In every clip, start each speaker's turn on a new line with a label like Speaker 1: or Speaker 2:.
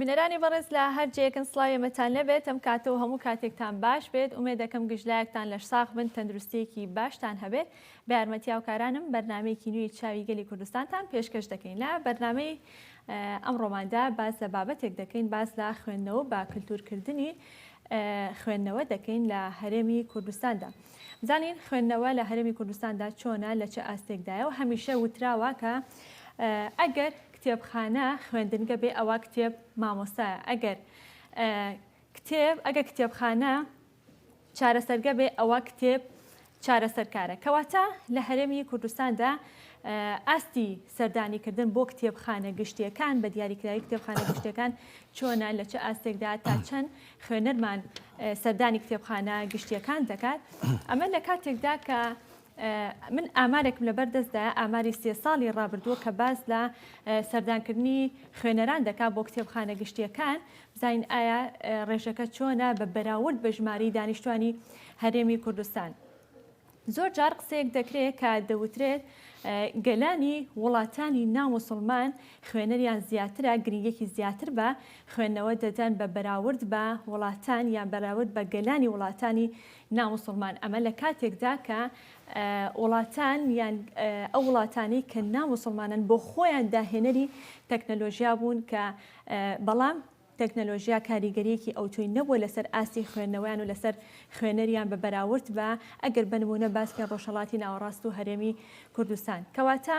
Speaker 1: بینەرانی بەڕێز لە هەر جێکن سلاوی مەتان نەبێت ئەم کاتە و هەموو کاتێکتان باش بێت ئومێ دەکەم گشتلایەکتان لەش ساخ بن تەندروستیەکی باشتان هەبێت بە یارمەتیاوکارانم بەرنمەیەکی نوێی چاوی گەلی کوردستانتان پێشکەش دەکەین لە بەرنمەی ئەم ڕۆماندا باس لە بابەتێک دەکەین باس لە خوێندنەوە بە کلتور کردنی خوێندنەوە دەکەین لە هەرێمی کوردستاندا بزانین خوێندنەوە لە هەرێمی کوردستاندا چۆنە لە چه ئاستێکدایە و هەمیشە وتراوە کە ئەگەر کتێبخانە خوێندنگە بێ ئەوە کتێب مامۆستایە ئەگەر کتێب ئەگە کتێبخانە چارەسەرگە بێ ئەوە کتێب چارەسەرکارە کەواتە لە هەرێمی کوردستاندا ئاستی سەردانی کردن بۆ کتێبخانە گشتیەکان بە دیاریکراوی کتێبخانە گشتەکان چۆنە لە چ ئاستێکدا تا چەند خوێنەرمان سەردانی کتێبخانە گشتیەکان دەکات ئەمە لە کاتێکدا کە من ئامارێکم لەبەر دەستدایە، ئاماری سێ ساڵی ڕابردووە کە باس لە سەردانکردنی خوێنەران دەکات بۆ کتێبخانە گشتییەکان، بزانین ئایا ڕێژەکە چۆنە بە بەراورد بە ژمارەی دانیشتوانی هەرێمی کوردستان. زۆر جار قسەیەک دەکرێت کە دەوترێت گەلانی وڵاتانی ناموسڵمان خوێنەریان زیاترە گرنگێکی زیاتر بە خوێندنەوە دەدەن بە بەراورد بە وڵاتان یان بەراورد بە گەلانی وڵاتانی نا موسڵمان ئەمە لە کاتێکدا کە وڵاتان یان ئەو وڵاتانەی کە نا موسڵمانن بۆ خۆیان داهێنەری تەکنەلۆژیا بوون کە بەڵام تەکنەلۆژیا کاریگەریەکی ئەوتۆی نەبووە لەسەر ئاستی خوێندنەوەیان و لەسەر خوێنەریان بە بەراورد بە ئەگەر بنمونە باس پێ ڕۆژهڵاتی ناوەڕاست و هەرێمی کوردستان کەواتە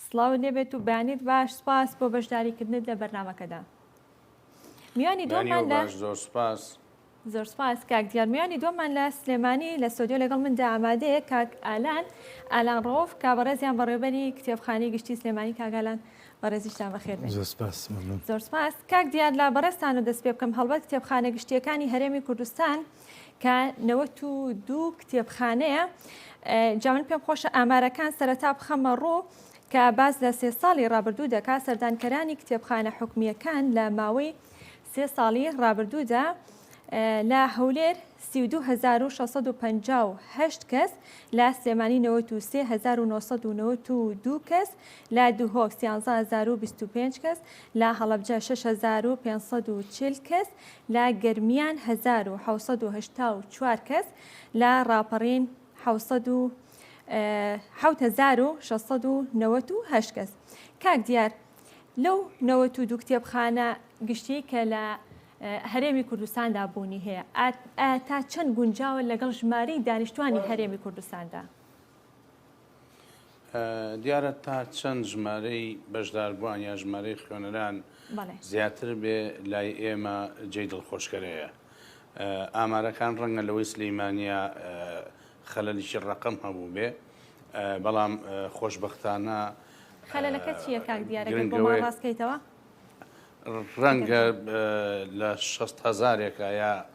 Speaker 1: سڵاوت لێ بێت و بەیانیت باش سوپاس بۆ بەشداری کردنت لە بەرنامەکەدا میوانی دووەمان لە زۆر سوپاس زۆر سپاس کاک دیار میانی دومان لە سلێمانی لە سۆدیۆ لەگەڵ مندا ئامادەیە کاک ئالان ئالان ڕۆف کا بەڕێزیان بەڕێبەری کتێبخانی گشتی سلێمانی کاگالان بەڕێزیشتان بەخێر زۆر سپاس زۆر سپاس کاک دیار لا بەڕێستان و دەست پێ بکەم هەڵبەت کتێبخانە گشتیەکانی هەرێمی کوردستان کە نەوەت و دوو کتێبخانەیە جا من پێم خۆشە ئامارەکان سەرەتا بخەمە ڕوو کە باس لە سێ ساڵی ڕابردوو دەکا سەردانکەرانی کتێبخانە حکومیەکان لە ماوەی سێ ساڵی ڕابردوودا لە هەولێر 1950 کەس لە سلێمانی 1992 کەس لە دوهۆک 13025 کەس لە هەڵبجە 6540 کەس لە گەرمیان هەزار و حەوت سەد و هەشتا و چوار کەس، لە ڕاپەڕین حەوت سەد و حەوت هەزار و شەش سەد و نەوەت و هەشت کەس. کاک دیار لەو نەوەت و دوو کتێبخانە گشتیەی کە لە هەرێمی کوردستاندا بوونی هەیە ئایا تا چەند گونجاوە لەگەڵ ژمارەی دانیشتوانی هەرێمی کوردستاندا؟
Speaker 2: دیارە تا چەند ژمارەی بەشداربووان یا ژمارەی خوێنەران زیاتر بێ لای ئێمە جێی دڵخۆشکەرەیە ئامارەکان ڕەنگە لەوەی سلیمانیا خەلەلیی ڕقم هەبوو بێ بەڵام خۆشببختانە خەلەکە
Speaker 1: چیە کاک دیارەوە ڕاستکەیتەوە
Speaker 2: ڕەنگە لە 6 هزارێکە یا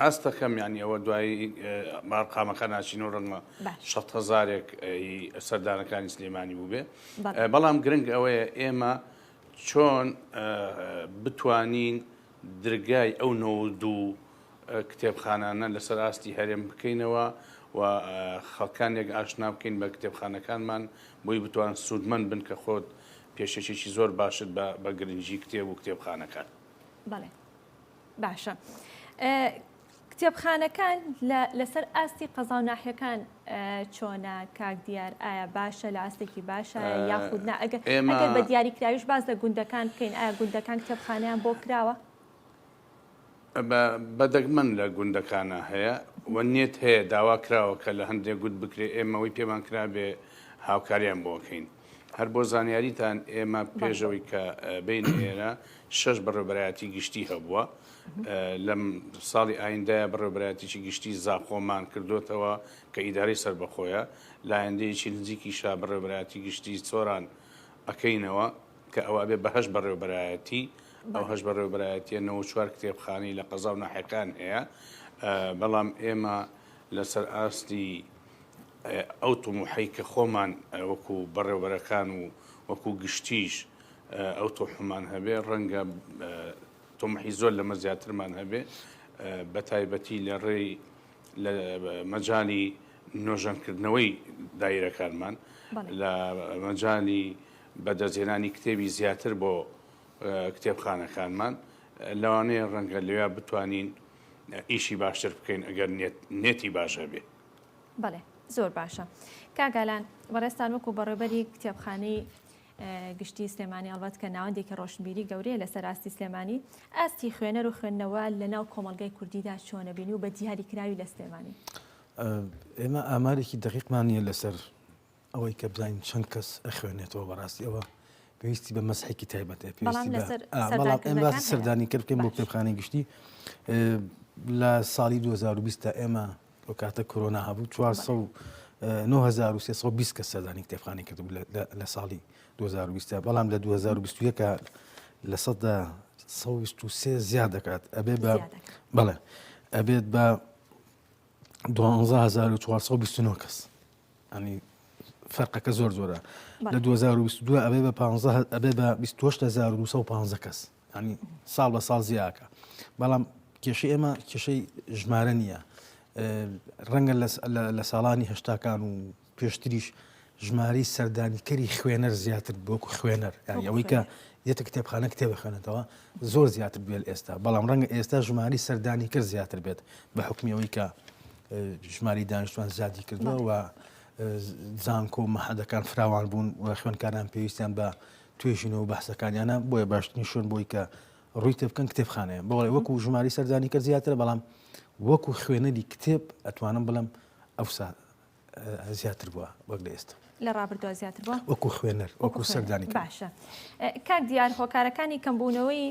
Speaker 2: ئاست دەکەم یانی ئەوە دوایی بارقامەکە ناچین و ڕەنگە شە هزارێک سەردانەکانی سلێمانی بووبێ بەڵام گرنگ ئەوەیە ئێمە چۆن بتوانین درگای ئەو نۆ دوو کتێبخانانە لەسەر ئاستی هەرێم بکەینەوە و خەڵکانێک ئاشنا بکەین بە کتێبخانەکانمان بۆی بتوان سوودمەند بن کە خۆت پێشێکێکی زۆر باشت بە گرنگجی کتێب و کتێبخانەکان. بەڵێ.
Speaker 1: باشە کتێبخانەکان لەسەر ئاستی قەزا و ناحیەکان چۆنە کاک دیار ئایا باشە لە ئاستێکی باشە یاخود نا ئەگە ئێمە بە دیاری کراویش باز لە گوندەکان بکەین ئایا گوندەکان کتێبخانیان بۆ کراوە
Speaker 2: بەدەگمەن لە
Speaker 1: گوندەکانە
Speaker 2: هەیە و نێت هەیە داوا کراوە کە لە هەندێک گوت بکرێ ئێمەوەی پێمان کرابێ هاوکاریان بۆکەین هەر بۆ زانیاریتان ئێمە پێشەوەی کە بین ئێرە شەش بەڕێبەرایەتی گشتی هەبووە لەم ساڵی ئایندای بەڕێبەرایەتیی گشتی زاخۆمان کردوتەوە کە ئیداری سربەخۆیە لایەندەیەکی نزیکی شا بەڕێبەرایەتی گشتی سۆران ئەەکەینەوە کە ئەوە بێ بەهش بەڕێبەرایەتی ئەو هەش بەڕێبەرایەتە نە چوار کتێبخانی لە قەزا و ناحەکان هەیە بەڵام ئێمە لەسەر ئاستی ئەو تموحەی کە خۆمان وەکو بەڕێوبەرەکان و وەکو گشتیش ئەو تۆحمان هەبێ ڕەنگە تۆمحی زۆر لەمە زیاترمان هەبێ بە تایبەتی لە ڕێی لە مەجای نۆژەنکردنەوەی دایرەکانمان لە مەجای بەدەستێنانی کتێبی زیاتر بۆ کتێبخانەکانمان لەوانەیە ڕەنگە لەوێ بتوانین ئیشی باشتر بکەین ئەگەر نێتی باش هەبێت. بەڵێ
Speaker 1: زۆر باشە کاگالان بەڕێستان وەکو بەڕێبەری کتێبخانەی گشتی سلێمانی ئەڵبەت کە ناوەندێکی ڕۆشنبیری گەورەیە لە سەراستی سلێمانی ئاستی خوێنەر و خوێندنەوە لە ناو کۆمەلگای کوردیدا چۆنەبین و بە دیاری کراوی لە سلێمانی
Speaker 3: ئێمە ئامارێکی دقیقمان نیە لەسەر ئەوەی کە بزانین چەند کەس ئەخوێنێتەوە بەڕاستی ئەوە پێویستی بە مەسحێکی تایبەتە پێویستی سەردانی کرد بکەین بۆ کتێبخانەی گشتی لە ساڵی 2020 تا ئێمە لە کاتە کۆرۆنا هەبوو 1920 کە سەردانی کتێبخانی کرد لە ساڵی 2020 بەڵام لە 2021 لە سەدا 1920 زیاد دەکات ئەبێ بە بەڵێ ئەبێت بە 1920 کەس ئەنی فەرقەکە زۆر زۆرە لە 2022 ئەبێ بە 15 ئەبێ بە 1950 کەس ئەنی ساڵ بە ساڵ زیاکە بەڵام کێشە ئێمە کێشەی ژمارە نییە ڕەنگە لە ساڵانی هەشتاکان و پێشتریش ژماری سەردانیکەری خوێنەر زیاتر بۆکو خوێنەر ئەوەی کە یەتە کتێبخانە کتێبخێنێتەوە زۆر زیاتر بێت ئێستا بەڵام ڕەنگە ئێستا ژماری سەردانی کرد زیاتر بێت بە حکمیەوەی کە ژمارەی دانیشتوان زیادی کردووە و زانکۆ و مەحەدەکان فراوان بوون و خوێندکاران پێویستیان بە توێژینەوە بەحسەکانیانە بۆیە باشترین شوێن بۆی کە ڕووی تێ بکەن کتێبخانەیە بەڵێ وەکو ژماری سەردانی کە زیاترە بەڵام وەکو خوێنەری کتێب ئەتوانم بڵم ئەوسا زیاتر بووە وەک لە ئێستا لە ڕابردووە زیاتر بووە؟
Speaker 1: وەکو خوێنەر، وەکو
Speaker 3: سەردانیکەر. باشە.
Speaker 1: کاک دیار هۆکارەکانی کەمبوونەوەی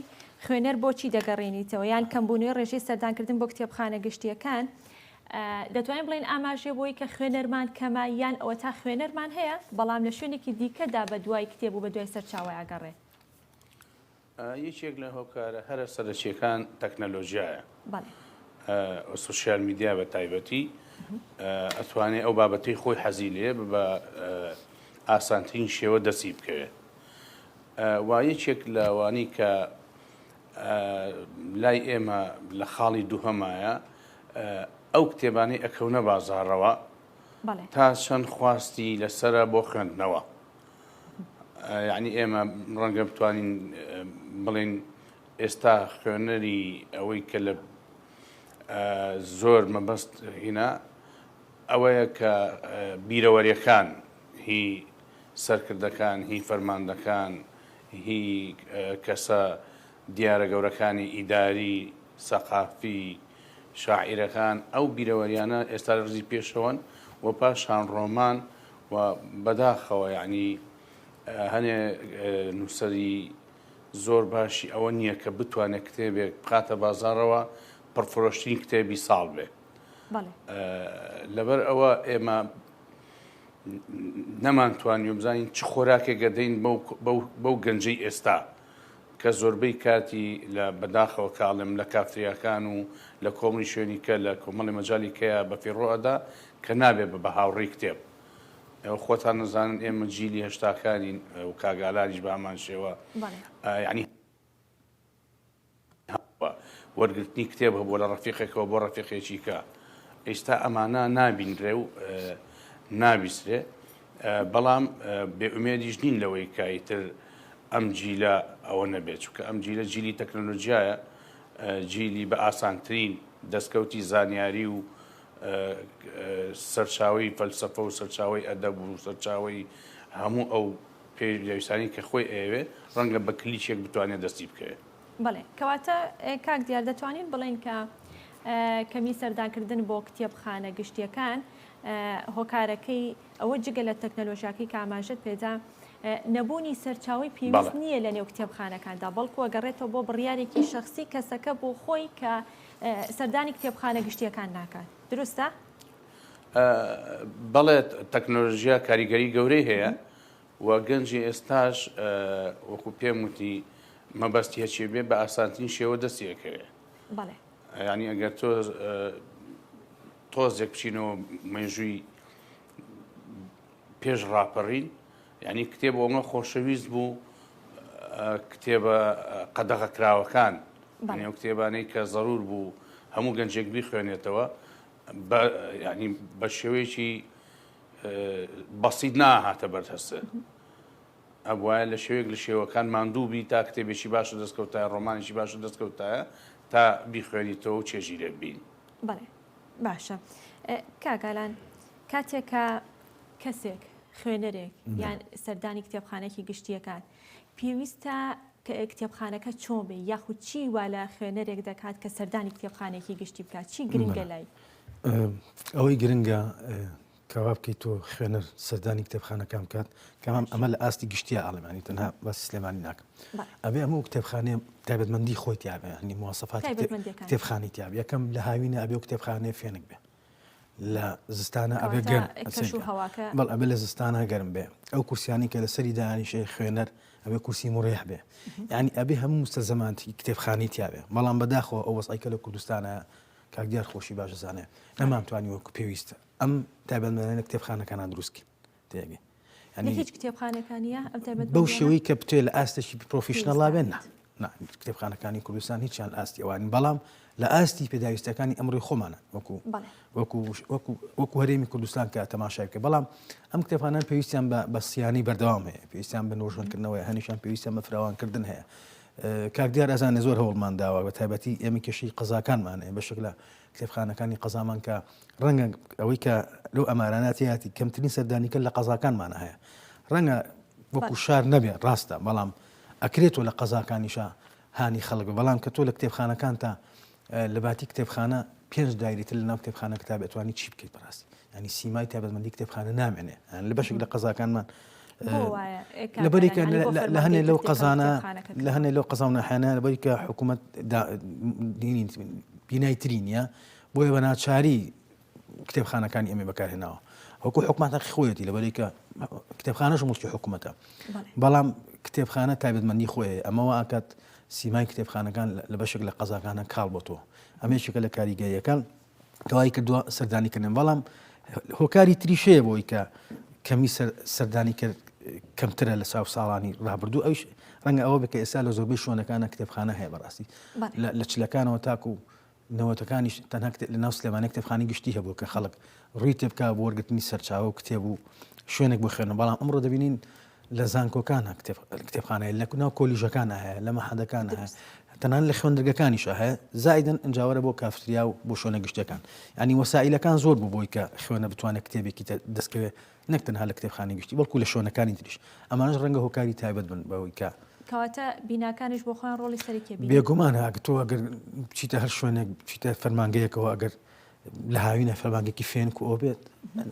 Speaker 1: خوێنەر بۆچی دەگەڕێنیتەوە یان کەمبوونەوەی ڕێژەی سەردانکردن بۆ کتێبخانە گشتییەکان دەتوانین بڵێن ئاماژێ بۆی کە خوێنەرمان کەمە یان ئەوە تا خوێنەرمان هەیە بەڵام لە شوێنێکی دیکەدا بە دوای کتێب و بە دوای سەرچاوەیە گەڕێ؟
Speaker 2: یەکێک لە هۆکارە هەرە سەرەکیەکان تەکنەلۆژیایە سوسیال میدیا بە تایبەتی ئەتوانێت ئەو بابەتی خۆی حەزی لێ بە ئاسانترین شێوە دەسی بکەوێت و یەکێک لەوانی کە لای ئێمە لە خاڵی دووهەمایە ئەو کتێبانی ئەکەونە بازارەوە تا چەند خواستی لەسرە بۆ خوێندنەوە یانی ئێمە ڕەنگە بتوانین بڵین ئێستا خوێنەری ئەوەی کە لە زۆر مەبەست هینا ئەوەیە کە بیرەوەریەکان هی سەرکردەکان هی فەرماندەکان هی کەسە دیارە گەورەکانی ئیداری، سەقافی، شاعیرەکان ئەو بیرەوەریانە ئێستا لە ڕیزی پێشەوەن و پاشان ڕۆمان و بەداخەوە یانی هەنێ نووسەری زۆر باشی ئەوە نییە کە بتوانێت کتێبێک بخاتە بازارەوە پڕفرۆشترین کتێبی ساڵ بێ لەبەر ئەوە ئێمە نەمانتوانی بزانین چ خۆراکێک گەدەین بەو گەنجەی ئێستا کە زۆربەی کاتی لە بەداخەوە کە ئەڵێم لە کافتریاکان و لە کۆمەڵی شوێنی کە لە کۆمەڵی مەجالی کەیە بە فیڕۆ ئەدا کە نابێ بە بە هاوڕێی کتێب. ئێوە خۆتان ئەزانن ئێمە جیلی هەشتاکانین و کاک ئالانیش بە هەمان شێوە. بەڵێ. یانی. هەبووە وەرگرتنی کتێب هەبووە لە ڕەفیقێکەوە بۆ ڕەفیقێکی کە ئێستا ئەمانە نابینرێ و نابیسرێ بەڵام بێئومێدیش نین لەوەی کایتر ئەم جیلە ئەوە نەبێت چکە ئەم جیلە جیلی تەکنۆلۆژیایە جیلی بە ئاسانترین دەستکەوتی زانیاری و سەرچاوی فەلسفە و سەرچاوی ئەدەب و سەرچاوی هەموو ئەو پێویستانی کە خۆی ئەوێ ڕەنگە بە کلیچێک بتوانێت
Speaker 1: دەستی
Speaker 2: بکەوێت
Speaker 1: بەڵێ کەواتە
Speaker 2: کاک
Speaker 1: دیار
Speaker 2: دەتوانین
Speaker 1: بڵێین کە کەمی سەردانکردن بۆ کتێبخانە گشتیەکان هۆکارەکەی ئەوە جگە لە تەکنەلۆژیاکەی کاماژت پێدا نەبوونی سەرچاوی پێویست نییە لە نێو کتێبخانەکاندا بەڵکو ئەگەڕێتەوە بۆ بڕیارێکی شخصی کەسەکە بۆ خۆی کە سەردانی کتێبخانە گشتیەکان ناکات دروستە؟
Speaker 2: بەڵێت تەکنۆلژیا کاریگەری گەورەی هەیە و گەنجی ئێستاش وەکو پێم وتی مەبەست هێچێ بێ بە ئاسانترین شێوە دەستی ئەکەوێ بەڵێ یعنی ئەگەر تۆ تۆزێک بچینەوە مێژووی پێش ڕاپەڕین یعنی کتێب ئەومە خۆشەویست بوو کتێبە قەدەغە کراوەکان یعنی ئەو کتێبانەی کە ضرور بوو هەموو گەنجێک بیخوێنێتەوە ینی بە شێوەیەکی بەسیت نا هاتە بەر هەست ئەبواە لە شێوێک لە شێوەکان ماندوو بی تا کتێبێکی باشە دەستکەوتایە ڕۆمانێکی باشە دەستکەوتایە تا بیخوێنیتەوە و چێژی لێ بین بڵێ
Speaker 1: باشە کاگالان کاتێکە کەسێک خوێنەرێک یان سەردانی کتێبخانێکی گشتیەکات پێویستە کتێبخانەکە چۆن بێ یاخود چی وا لە خوێنەرێک دەکات کە سەردانی کتێبخانێکی گشتی بکات چی گرنگە لای
Speaker 3: ئەوەی گرنگە کەوا بکەیت تۆ خوێنەر سەردانی کتێبخانەکان بکات کەمام ئەمە لە ئاستی گشتیا ئاڵمانی تەنها بە سلێمانی ناکە ئەبێ ئەمە و کتێبخانێ تایبەتمەندی خۆی تیاابێنی موواسەفات کتێبخانی تیاب یەکەم لە هاوینە ئەبێ و کتێبخانێ فێنک بێ لە زستانە ئەبێ گەر بەڵ ئەبێ لە زستانە گەرم بێ ئەو کورسیانی کە لە سەری دانیشێ خوێنەر ئەبێ کورسی مڕێح بێ ینی ئەبێ هەموو مستە زەمانتی کتێبخانی تیاێ بەڵام بەداخەوە ئەو وەسایکە لە کوردستانە کاک دیار خۆشی باش دەزانێ نەمان توانی وەکو پێویست ئەم تایبەتمەندانە کتێبخانەکانان دروست کرد تێگەی یعنی لە هیچ کتێبخانەکان نییە ئەم
Speaker 1: تایبەت بەو شێوەی
Speaker 3: کە بتوێ لە ئاستێکی پرۆفیشنەڵ لا بێن نا پێویستانێت. نا کتێبخانەکانی کوردستان هیچیان ئاستی ئەوان بەڵام لە ئاستی پێداویستەکانی ئەمڕۆی خۆمانە وەکو بەڵێ وەکو وەکو وەکو هەرێمی کوردستان کە تەماشای بکە بەڵام ئەم کتێبخانان پێویستیان بە بە سیانی بەردەوام هەیە پێویستیان بە نۆژەنکردنەوەی هەنیشان پێویستیان بە فراوانکردن هەیە کاک دیار ئەزانێ زۆر هەوڵمان داوە بە تایبەتی ئێمە کێشەی قەزاکانمان هەیە بەشێک لە کتێبخانەکانی قەزامان کە ڕەنگە ئەوەی کە لەو ئەمارانە تیاتی کەمترین سەردانیکە لە قەزاکانمان هەیە ڕەنگە وەکو شار نەبێ ڕاستە بەڵام ئەکرێت و لە قەزاکانیشە هانی خەڵک بەڵام کە تۆ لە کتێبخانەکان تا لە باتی کتێبخانە پێنج دایرەی تر لەناو کتێبخانە کتاب ئەتوانی چی بکەیت بەڕاستی ینی سیمای تابەتمەندی کتێبخانە نامێنێ لە بەشێک لە قەزاکانمان لەبەریکە لە هەنێ لەو قەزانە لە هەنێ لەو قەزاونەحانە لەبەریکە حکوومەت بینای تری نیە بۆیە بە ناچاری کتێبخانەکانی ئێمەی بەکارهێناوە وەکو حکومان هەقی خۆیەتی لەبەرێکە کتێبخانەش مڵکی حکوومەتە بەڵام کتێبخانە تایبەتمەندی خۆی ئەمەوە ئاکات سیمای کتێبخانەکان لە بەشێک لە قەزاکانە کاڵ بۆ تۆ ئەمێکێکە لە کاریگەیەکان دوای کردووە سەردانی کردن بەڵام هۆکاری تریشەیە بۆی کە کەمی سەردانی کرد کەمترە لە ساو ساڵانی ڕابردوو ئەوش ڕەنگە ئەوە بکە ئێستا لە زۆربەی شوێنەکانە کتێبخانە هەیە بەڕاستی لە چلەکانەوە تاکو و نەوەتەکانیش تەنها کتێب لەناو سلێمانیە کتێبخانەی گشتی هەبوو کە خەڵک ڕووی تێبکا بۆ وەرگرتنی سەرچاوە و کتێب و شوێنێک بۆ خوێندن بەڵام ئەمڕۆ دەبینین لە زانکۆکان هە کتێب کتێبخانەیە لە ناو کۆلیژەکان هەیە لە مەحەدەکان هەیە دروست تەنان لە خوێندرگەکانیش هەیە زایدن ئەنجاوەرە بۆ کافتریا و بۆ شوێنە گشتیەکان ینی وەسائلەکان زۆر بوو بۆی کە خوێنەر بتوانێت کتێبێکی تە دەستکەوێت نەک تەنها لە کتێبخانەی گشتی بەڵکو لە شۆنەکانی تریش، ئەمانەش ڕەنگە هۆکاری تایبەت بن بەوەی کە. کەواتە
Speaker 1: بیناکانیش بۆ خۆیان ڕۆڵی سەرەکیە بینی. بێگومان ئەگەر تۆ
Speaker 3: ئەگەر بچیتە هەر شوێنێک بچیتە فەرمانگەیەکەوە ئەگەر لە هاوینە فەرمانگەیەکی فێنک و ئەو بێت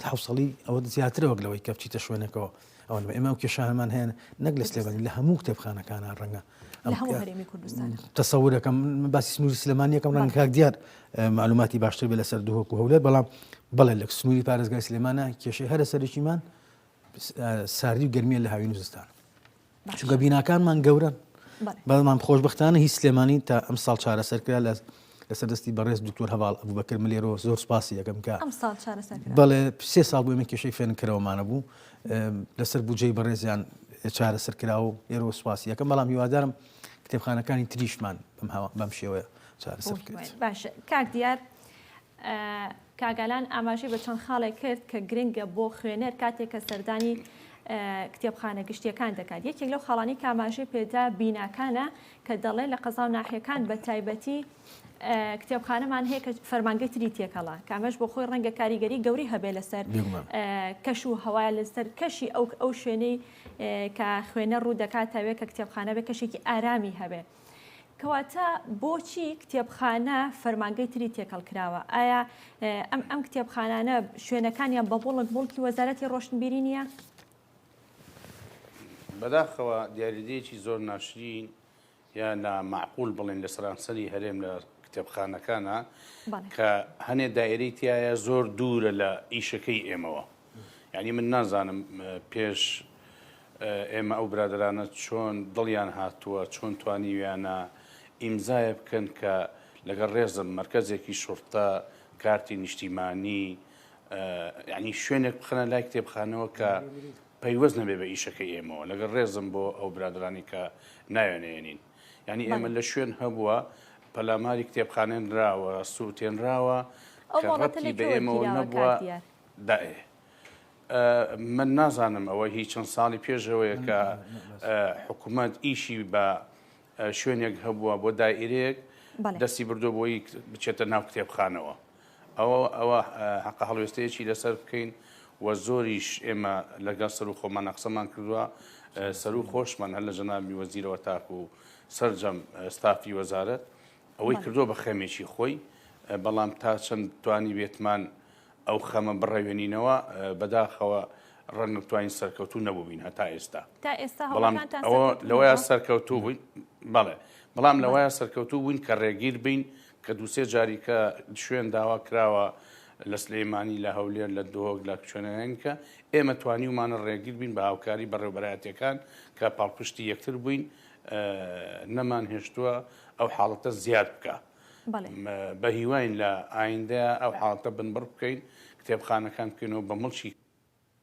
Speaker 3: حەوسەڵی ئەوەت زیاترە وەک لەوەی کە بچیتە شوێنێکەوە ئەوە نەبێ ئێمە ئەو کێشانەمان هەیە نەک لە سلێمانی لە هەموو کتێبخانەکانە ڕەنگە لە هەموو هەرێمی کوردستان تەسەورەکەم من باسی سنووری سلێمانیەکەم ڕەنگە کاک دیار مەعلوماتی باشتر بێت لەسەر دهۆک و هەولێر بەڵام بەڵێ لە سنووری پارێزگای سلێمانە کێشەی هەرە سەرەکیمان ساردی و گەرمیە لە هاوین و زستان چونکە بیناکانمان گەورن بەڵمان خۆشببختانە هی سلێمانی تا ئەم ساڵ چارەسەرکرا لە لەسەر دەستی بەڕێز دکتۆر هەواڵ ئەبوو بەکرد ملێرۆ زۆر سپاسی یەکەم کە بەڵێ سێ ساڵ بۆ ئێمە کێشەی فێنکەرەوەمانە بوو لەسەر بجێی بەڕێزیان چارەسەر کراوە لێرۆ سپاسی یەکەم بەڵام هیوادارم کتێبخانەکانی تریشمان بەم شێوەیە چارەسەر بکرێت. باشە کاک دیار
Speaker 1: کاگالان ئاماژەی بە چەند خاڵێک کرد کە گرنگە بۆ خوێنەر کاتێک کە سەردانی کتێبخانە گشتیەکان دەکات یەکێک لەو خاڵانی کاماژەی پێدا بیناکانە کە دەڵێ لە قەزا و ناحیەکان بە تایبەتی کتێبخانەمان هەیە کە فەرمانگەی تری تێکەڵە کامەش بۆ خۆی ڕەنگە کاریگەری گەوری هەبێ لەسەر کەش و هەوای لەسەر کەشی ئەو ئەو شوێنەی کە خوێنەر ڕوو دەکاتەوێ کە کتێبخانە بێ کەشێکی ئارامی هەبێ. کەواتە بۆچی کتێبخانە فەرمانگەی تری تێکەڵ کراوە؟ ئایا ئەم ئەم کتێبخانانە شوێنەکانیان بە بوڵک بوڵکی وەزارەتی ڕۆشنبیری نییە؟
Speaker 2: بەداخەوە دیاریدەیەکی زۆر ناشرین یا نا مەعقول بڵێن لە سەرانسەری هەرێم لە کتێبخانەکانە کە هەنێ دایرەی تایە زۆر دوورە لە ئیشەکەی ئێمەوە یعنی من نازانم پێش ئێمە ئەو برادرانە چۆن دڵیان هاتووە چۆن توانیویانە ئیمزایە بکەن کە لەگەڵ ڕێزم مرکزێکی شورتە کارتی نیشتیمانی یعنی شوێنێک بخەنە لای کتێبخانەوە کە پەیوەست نەبێ بە ئیشەکەی ئێمەوە لەگەڵ ڕێزم بۆ ئەو برادرانی کە ناوێنەیەنین ینی ئێمە لە شوێن هەبووە پەلاماری کتێبخانێنراوە سووتێنراوە ڕەتی بە ئێمەوە نەبووە دائێ من نازانم ئەوە هیچ چەند ساڵی پێشەوەیە کە حکوومەت ئیشی بە شوێنێک هەبووە بۆ دایرێک دەستی بردو بۆی بچێتە ناو کتێبخانەوە ئەوە ئەوە هەقە هەڵوێستەیەکی لەسەر بکەین و زۆریش ئێمە لەگەڵ سەر و خۆمانە قسەمان کردووە سەر و خۆشمان هەر لە جەنابی وەزیرەوە تاکو و سرجەم ستافی وەزارەت ئەوەی کردو بە خەمێکی خۆی بەڵام تا چەند توانی بێتمان ئەو خەمە بڕەوێنینەوە بەداخەوە ڕەنگە بتوانین سەرکەوتو نەبووین هەتا ئێستا تا ئێستا بەڵام ئەوە لەوەیە سەرکەوتو بووین بەڵێ بەڵام لەوەیە سەرکەوتو بووین کە ڕێگیر بین کە دوو سێ جاری کە شوێن داوا کراوە لە سلێمانی لە هەولێر لە دهۆک لە کوێنەنین کە ئێمە توانیومانە ڕێگیر بین بە هاوکاری بەڕێوبەرایەتەکان کە پاڵپشتی یەکتر بووین نەمان هێشتووە ئەو حاڵەتە زیاد بکە بە هیواین لە ئایندە ئەو حاڵەتە بنبڕ بکەین کتێبخانەکان بکەینەوە بە مڵکی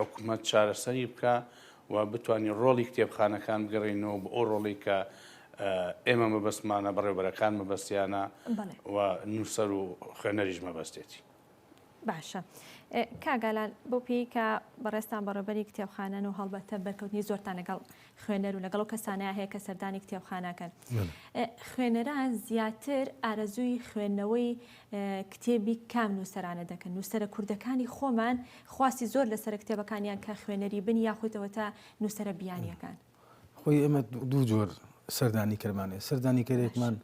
Speaker 2: حکومەت چارەسەری بکا و بتوانین ڕۆڵی کتێبخانەکان بگەڕێنەوە بۆ ئەو ڕۆڵی کە ئێمە مەبەستمانە بەڕێوبەرەکان مەبەستیانە و نووسەر و خوێنەریش مەبەستێتی باشە
Speaker 1: کاگالان بۆ پێی کە بەڕێستان بەڕێبەری کتێبخانەن و هەڵبەتە بەرکەوتنی زۆرتان لەگەڵ خوێنەر و لەگەڵ ئەو کەسانەیا هەیە کە سەردانی کتێبخانەکەن. خوێنەران زیاتر ئارەزووی خوێندنەوەی کتێبی کام نووسەرانە دەکەن. نووسەرە کوردەکانی خۆمان خواستی زۆر لەسەر کتێبەکانیان کە خوێنەری بن یاخودەوە تا نووسەرە بیانیەکان. خۆی ئێمە
Speaker 3: دوو جۆر سەردانی کەرمانێ سەردانی کەرێکمان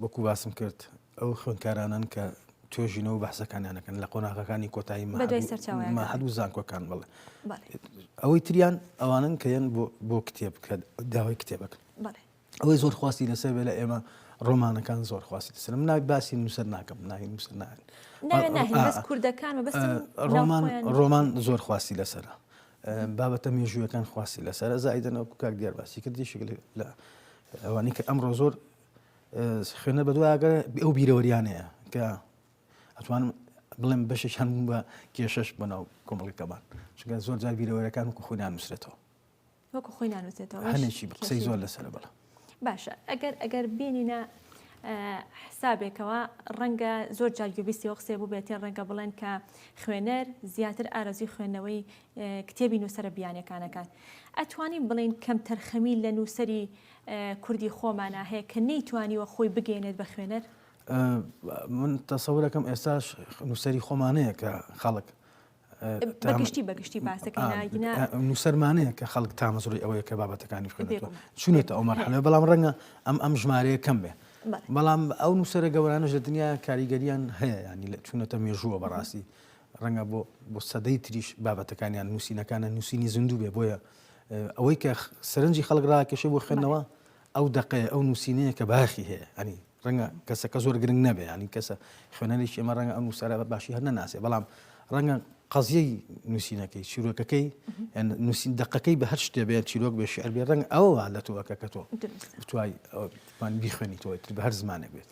Speaker 3: وەکو باسم کرد ئەو خوێندکارانەن کە توێژینەوە بەحسەکانیانەکەن لە قۆناغەکانی کۆتایی مەحد و زانکۆکان بڵ ئەوەی تریان ئەوانن کە یەن بۆ کتێب بکرێت داوای کتێبەکە ئەوەی زۆر خواستی لەسەر بێ لە ئێمە ڕۆمانەکان زۆر خواستی دەسرم ناک باسی نووسەر ناکەم ناین نووسەر ناین
Speaker 1: کوردەکان
Speaker 3: ڕۆمان زۆر خواستی لەسرە بابەتە مێژوویەکان خواستی لەسەر زایدن و کاک دیار باسی کردی شکل لە ئەوانی کە ئەمڕۆ زۆر خوێنە بەدوواگە ئەو بیرەوەریانەیە کە ئەتوانم بڵێم بەشێک هەم بە کێشەش بەناو کۆمەڵەکەمان چگە زۆر جار بیرەوەرەکان وکو خۆیان نووسێتەوە
Speaker 1: وەکو خۆی نانوسێتەوە هەنێکی قسەی زۆر
Speaker 3: لەسەر بڵە باشە ئەگەر
Speaker 1: ئەگەر بینینە حسابێکەوە ڕەنگە زۆر جار گوێبیستی ئەو قسێ بووبێتێ ڕەنگە بڵێن کە خوێنەر زیاتر ئارەزوی خوێندنەوەی کتێبی نووسرە بیانەکانەکان ئەتوانین بڵین کەم تەرخەمی لە نووسری کوردی خۆمانە هەیە کە نەیتوانیوە خۆی بگەێنێت بە خوێنەر
Speaker 3: من تەسەورەکەم ئێستاش نووسری خۆمانەیە کە خەڵک بەگشتی
Speaker 1: بەگشتی باسەکەنا نووسەرمانەیە کە
Speaker 3: خەڵک تامەزڕی ئەوەیە کە بابەتەکانی خوێنێتەوە چونێتە ئەو مەرحەلە بەڵام ڕەنگە ئەم ئەم ژمارەیە کەم بێ بەڵام ئەو نووسرە گەورانەش لە دنیا کاریگەریان هەیە ینی لە چونەتە مێژووە بەڕاستی ڕەنگە بۆ بۆ سەدەی تریش بابەتەکانیان نووسینەکانە نووسینی زیندوو بێ بۆیە ئەوەی کە سەرنجی خەڵک ڕاکێشە بۆ خوێندنەوە ئەو دەقەیە ئەو نووسینەیە کە بایەخی هەیە ئەنی ڕەنگە کەسەکە زۆر گرنگ نەبێ ئەنی کەسە خوێنەریش ئێمە ڕەنگە ئەو نووسرە بە باشی هەر نەناسێ بەڵام ڕەنگە قەزیەی نووسینەکەی چیرۆکەکەی نووسین دقەکەی بە هەر شتێ بێ چیرۆک بێ شعر بێ ڕەنگ ئەوە لە تۆەکە کە تۆ بتوای بیخوێنیتەوەی تر بە هەر زمانێک بێت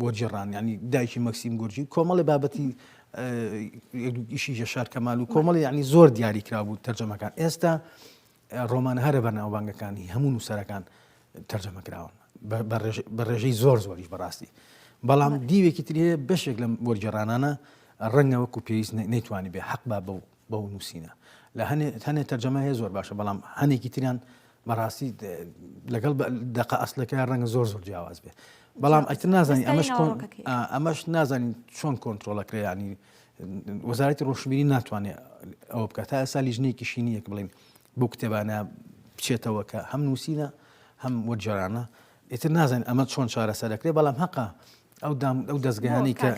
Speaker 3: بۆ جێڕان ینی دایکی مەکسیم گورجی کۆمەڵی بابەتی ئیشی جەشار کەمال و کۆمەڵی ینی زۆر دیاری کرا بوو تەرجەمەکان ئێستا ڕۆمانە هەرە بەناوبانگەکانی هەموو نووسەرەکان تەرجەمە کراون بە ڕێژەی زۆر زۆریش بەڕاستی بەڵام دیوێکی ترێ بەشێک لەم وەرجێڕانانە ڕەنگە وەکو پێویست نەیتوانی بێ حەق با بە بەو نوسینە لە هەنێ هەنێ تەرجەمە هەیە زۆر باشە بەڵام هەنێکی تریان بەڕاستی لەگەڵ دەقە ئەسلەکە ڕەنگە زۆر زۆر جیاواز بێ بەڵام ئەتر نازانین ئەمەش ئەمەش نازانین چۆن کۆنتترۆلەکرێ ینی وەزارەتی ڕۆشببیری ناتوانێت ئەوە بکات تا ئێستا لیژنێکی شینیەک بڵین بۆ کتێبانە بچێتەوە کە هەم نووسینە هەم وەرجارانە ئیتر نازانین ئەمە چۆن چارەسەرەکرێ بەڵام هەقا ئەو دەزگایانەی کە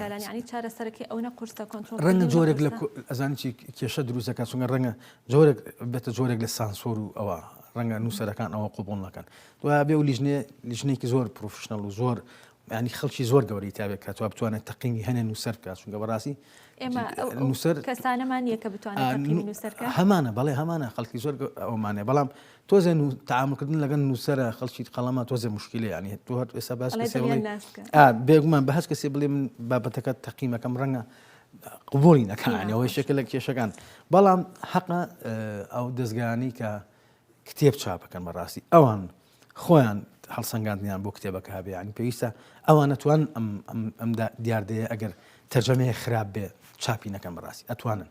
Speaker 3: ڕەنگە جۆرێک لە ئەزانانی کێشە دروستەکە چونگە ڕەنگە جۆرێک بێتە جۆرێک لە سانسۆر و ئەوە ڕەنگە نووسەرەکان ئەوە قوبڵ نەکەن دوای بێ و لیژنێ لیژنێکی زۆر پرۆفشنەڵ و زۆر ینی خەڵکی زۆر گەوری تاێک کات بتوانێت تەقیمی هەنێ نووسەر بکات چونگە بەڕاستی ئێمەسەر کەسانەمان
Speaker 1: یەکە بتوانێت هەمانە بەڵێ هەمانە
Speaker 3: خەڵکی زۆر ئەومانێ بەڵام تۆزێ نوو تعامل کردن لەگەن نووسرە خەڵکی قەڵەمە تۆزێ مشکلی یعنی تۆ هەر ئێستا باس بێگومان بە هەست کەسێ بڵێ من بابەتەکە تەقیمەکەم ڕەنگە قوبولی نەکانەوە شێکە لە کێشەکان بەڵام حەقە ئەو دەستگانی کە کتێب چاپەکەن بەڕاستی ئەوان خۆیان هەڵسەنگاندیان بۆ کتێبەکە هەبێیان پێویستە ئەوانە توان ئەم دیاردەیە ئەگەر تەرجەمەیە خراپ بێ چاپی نەکەم بەڕاستی ئەتوانن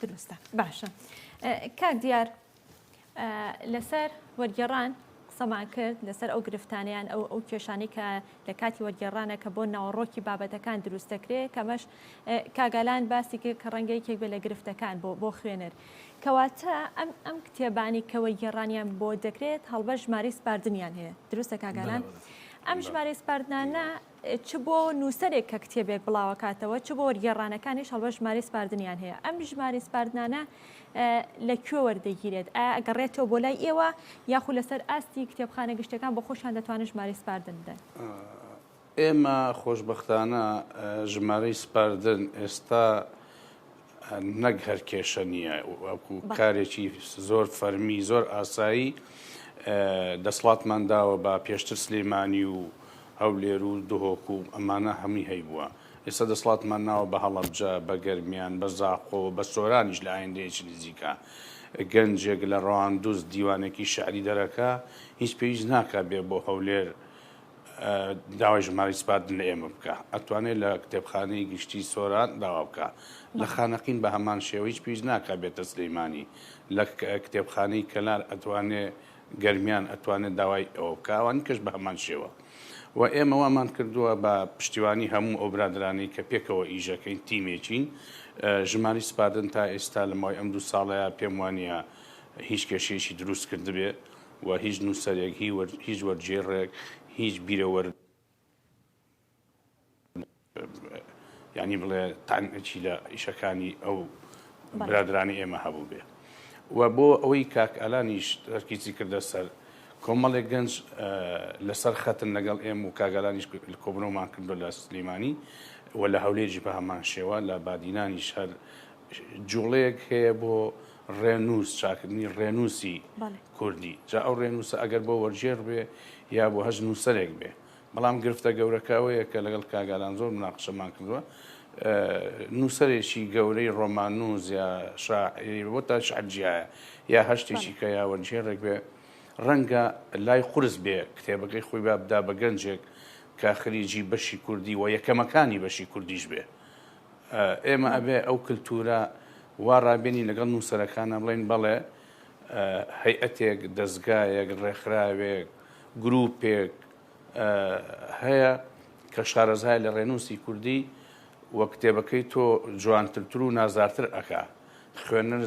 Speaker 3: دروستە
Speaker 1: باشە کاک دیار لەسەر وەرگێڕان قسەمان کرد لەسەر ئەو گرفتانیان ئەو ئەو کێشانی کە لە کاتی وەرگێڕانە کە بۆ ناوەڕۆکی بابەتەکان دروست دەکرێت کەمەش کاگالان باسی کرد کە ڕەنگە یەکێک بێ لە گرفتەکان بۆ بۆ خوێنەر کەواتە ئەم ئەم کتێبانی کە وەرگێڕانیان بۆ دەکرێت هەڵبە ژماری سپاردنیان هەیە دروستە کاگالان ئەم ژمارە سپاردنانە چ بۆ نووسەرێک کە کتێبێک بڵاوەکاتەوە چ بۆ وەرگێڕانەکانیش هەڵبەت ژمارەی سپاردنیان هەیە ئەم ژمارەی سپاردنانە لە کوێ وەردەگیرێت ئایا ئەگەڕێتەوە بۆ لای ئێوە یاخود لەسەر ئاستی کتێبخانە گشتەکان بۆ خۆشیان دەتوانن ژمارەی سپاردن بدەن
Speaker 2: ئێمە خۆشببختانە ژمارەی سپاردن ئێستا نەک هەر کێشە نییە وەکو کارێکی زۆر فەرمی زۆر ئاسایی دەسڵاتمان داوە بە پێشتر سلێمانی و هەولێر و دهۆک و ئەمانە هەمووی هەیبووە ئێستا دەسڵاتمان ناوە بە هەڵەبجە بە گەرمیان بە زاقۆ بە سۆرانیش لە ئایندەیەکی نزیکە گەنجێک لە ڕەواندوز دیوانێکی شعری دەرەکە هیچ پێویست ناکە بێ بۆ هەولێر داوای ژمارەی سپاردن لە ئێمە بکە ئەتوانێت لە کتێبخانەی گشتی سۆران داوا بکە لە خانەقین بە هەمان شێوە هیچ پێویست ناکە بێتە سلەیمانی لە کتێبخانەی کەلار ئەتوانێ گەرمیان ئەتوانێت داوای ئەوە بکە ئەوانی کەش بە هەمان شێوە و ئێمە وامان کردووە بە پشتیوانی هەموو ئەو برادرانەی کە پێکەوە ئیژەکەین تیمێکین ژماری سپاردن تا ئێستا لە ماوەی ئەم دوو ساڵەیە پێم وانە هیچ کێشەیەکی دروست کردبێ و هیچ نووسەرێک، هیچ وەرگێڕێک، هیچ بیرەوەر یانی بڵێ تانچی لە ئیشەکانی ئەو برادرانی ئێمە هەبوو بێ و بۆ ئەوەی کاک ئەلانیش تەرکیزی کردە سەر کۆمەڵێک گەنج لەسەر خەتن لەگەڵ ئێم و کاگەلانیش کۆبنەوەمان کردو لە سلیمانی و لە هەولێجی بە هەمان شێوە لە بادینانیش هەر جوڵەیەک هەیە بۆ ڕێنووس چاکردنی ڕێنووسی کوردی، جا ئەو ڕێنووسە ئەگەر بۆ وەرگێڕ بێ یا بۆ هەچ نووسەرێک بێ. بەڵام گرفتە گەورەکە ئەوەیە کە لەگەڵ کاک ئالان زۆر مناقەشەمان کردووە، نووسەرێکی گەورەی ڕۆماننووس یا شاعیر بۆ تا شیعر جیایە یا هەر شتێکی کە یا وەرگێڕێک بێ، ڕەنگە لای قورس بێ کتێبەکەی خۆی با بدا بە گەنجێک کە خریجی بەشی کوردی و یەکەمەکانی بەشی کوردیش بێ. ئێمە ئەبێ ئەو کلتوورە وا ڕابێنین لەگەڵ نووسەرەکانا بڵێین بەڵێ هەیئەتێک، دەزگایەک، ڕێکخراوێک، گرووپێک هەیە کە شارەزایە لە ڕێنووسی کوردی و کتێبەکەی تۆ جوانترتر و نازدارتر ئەکا. خوێنەر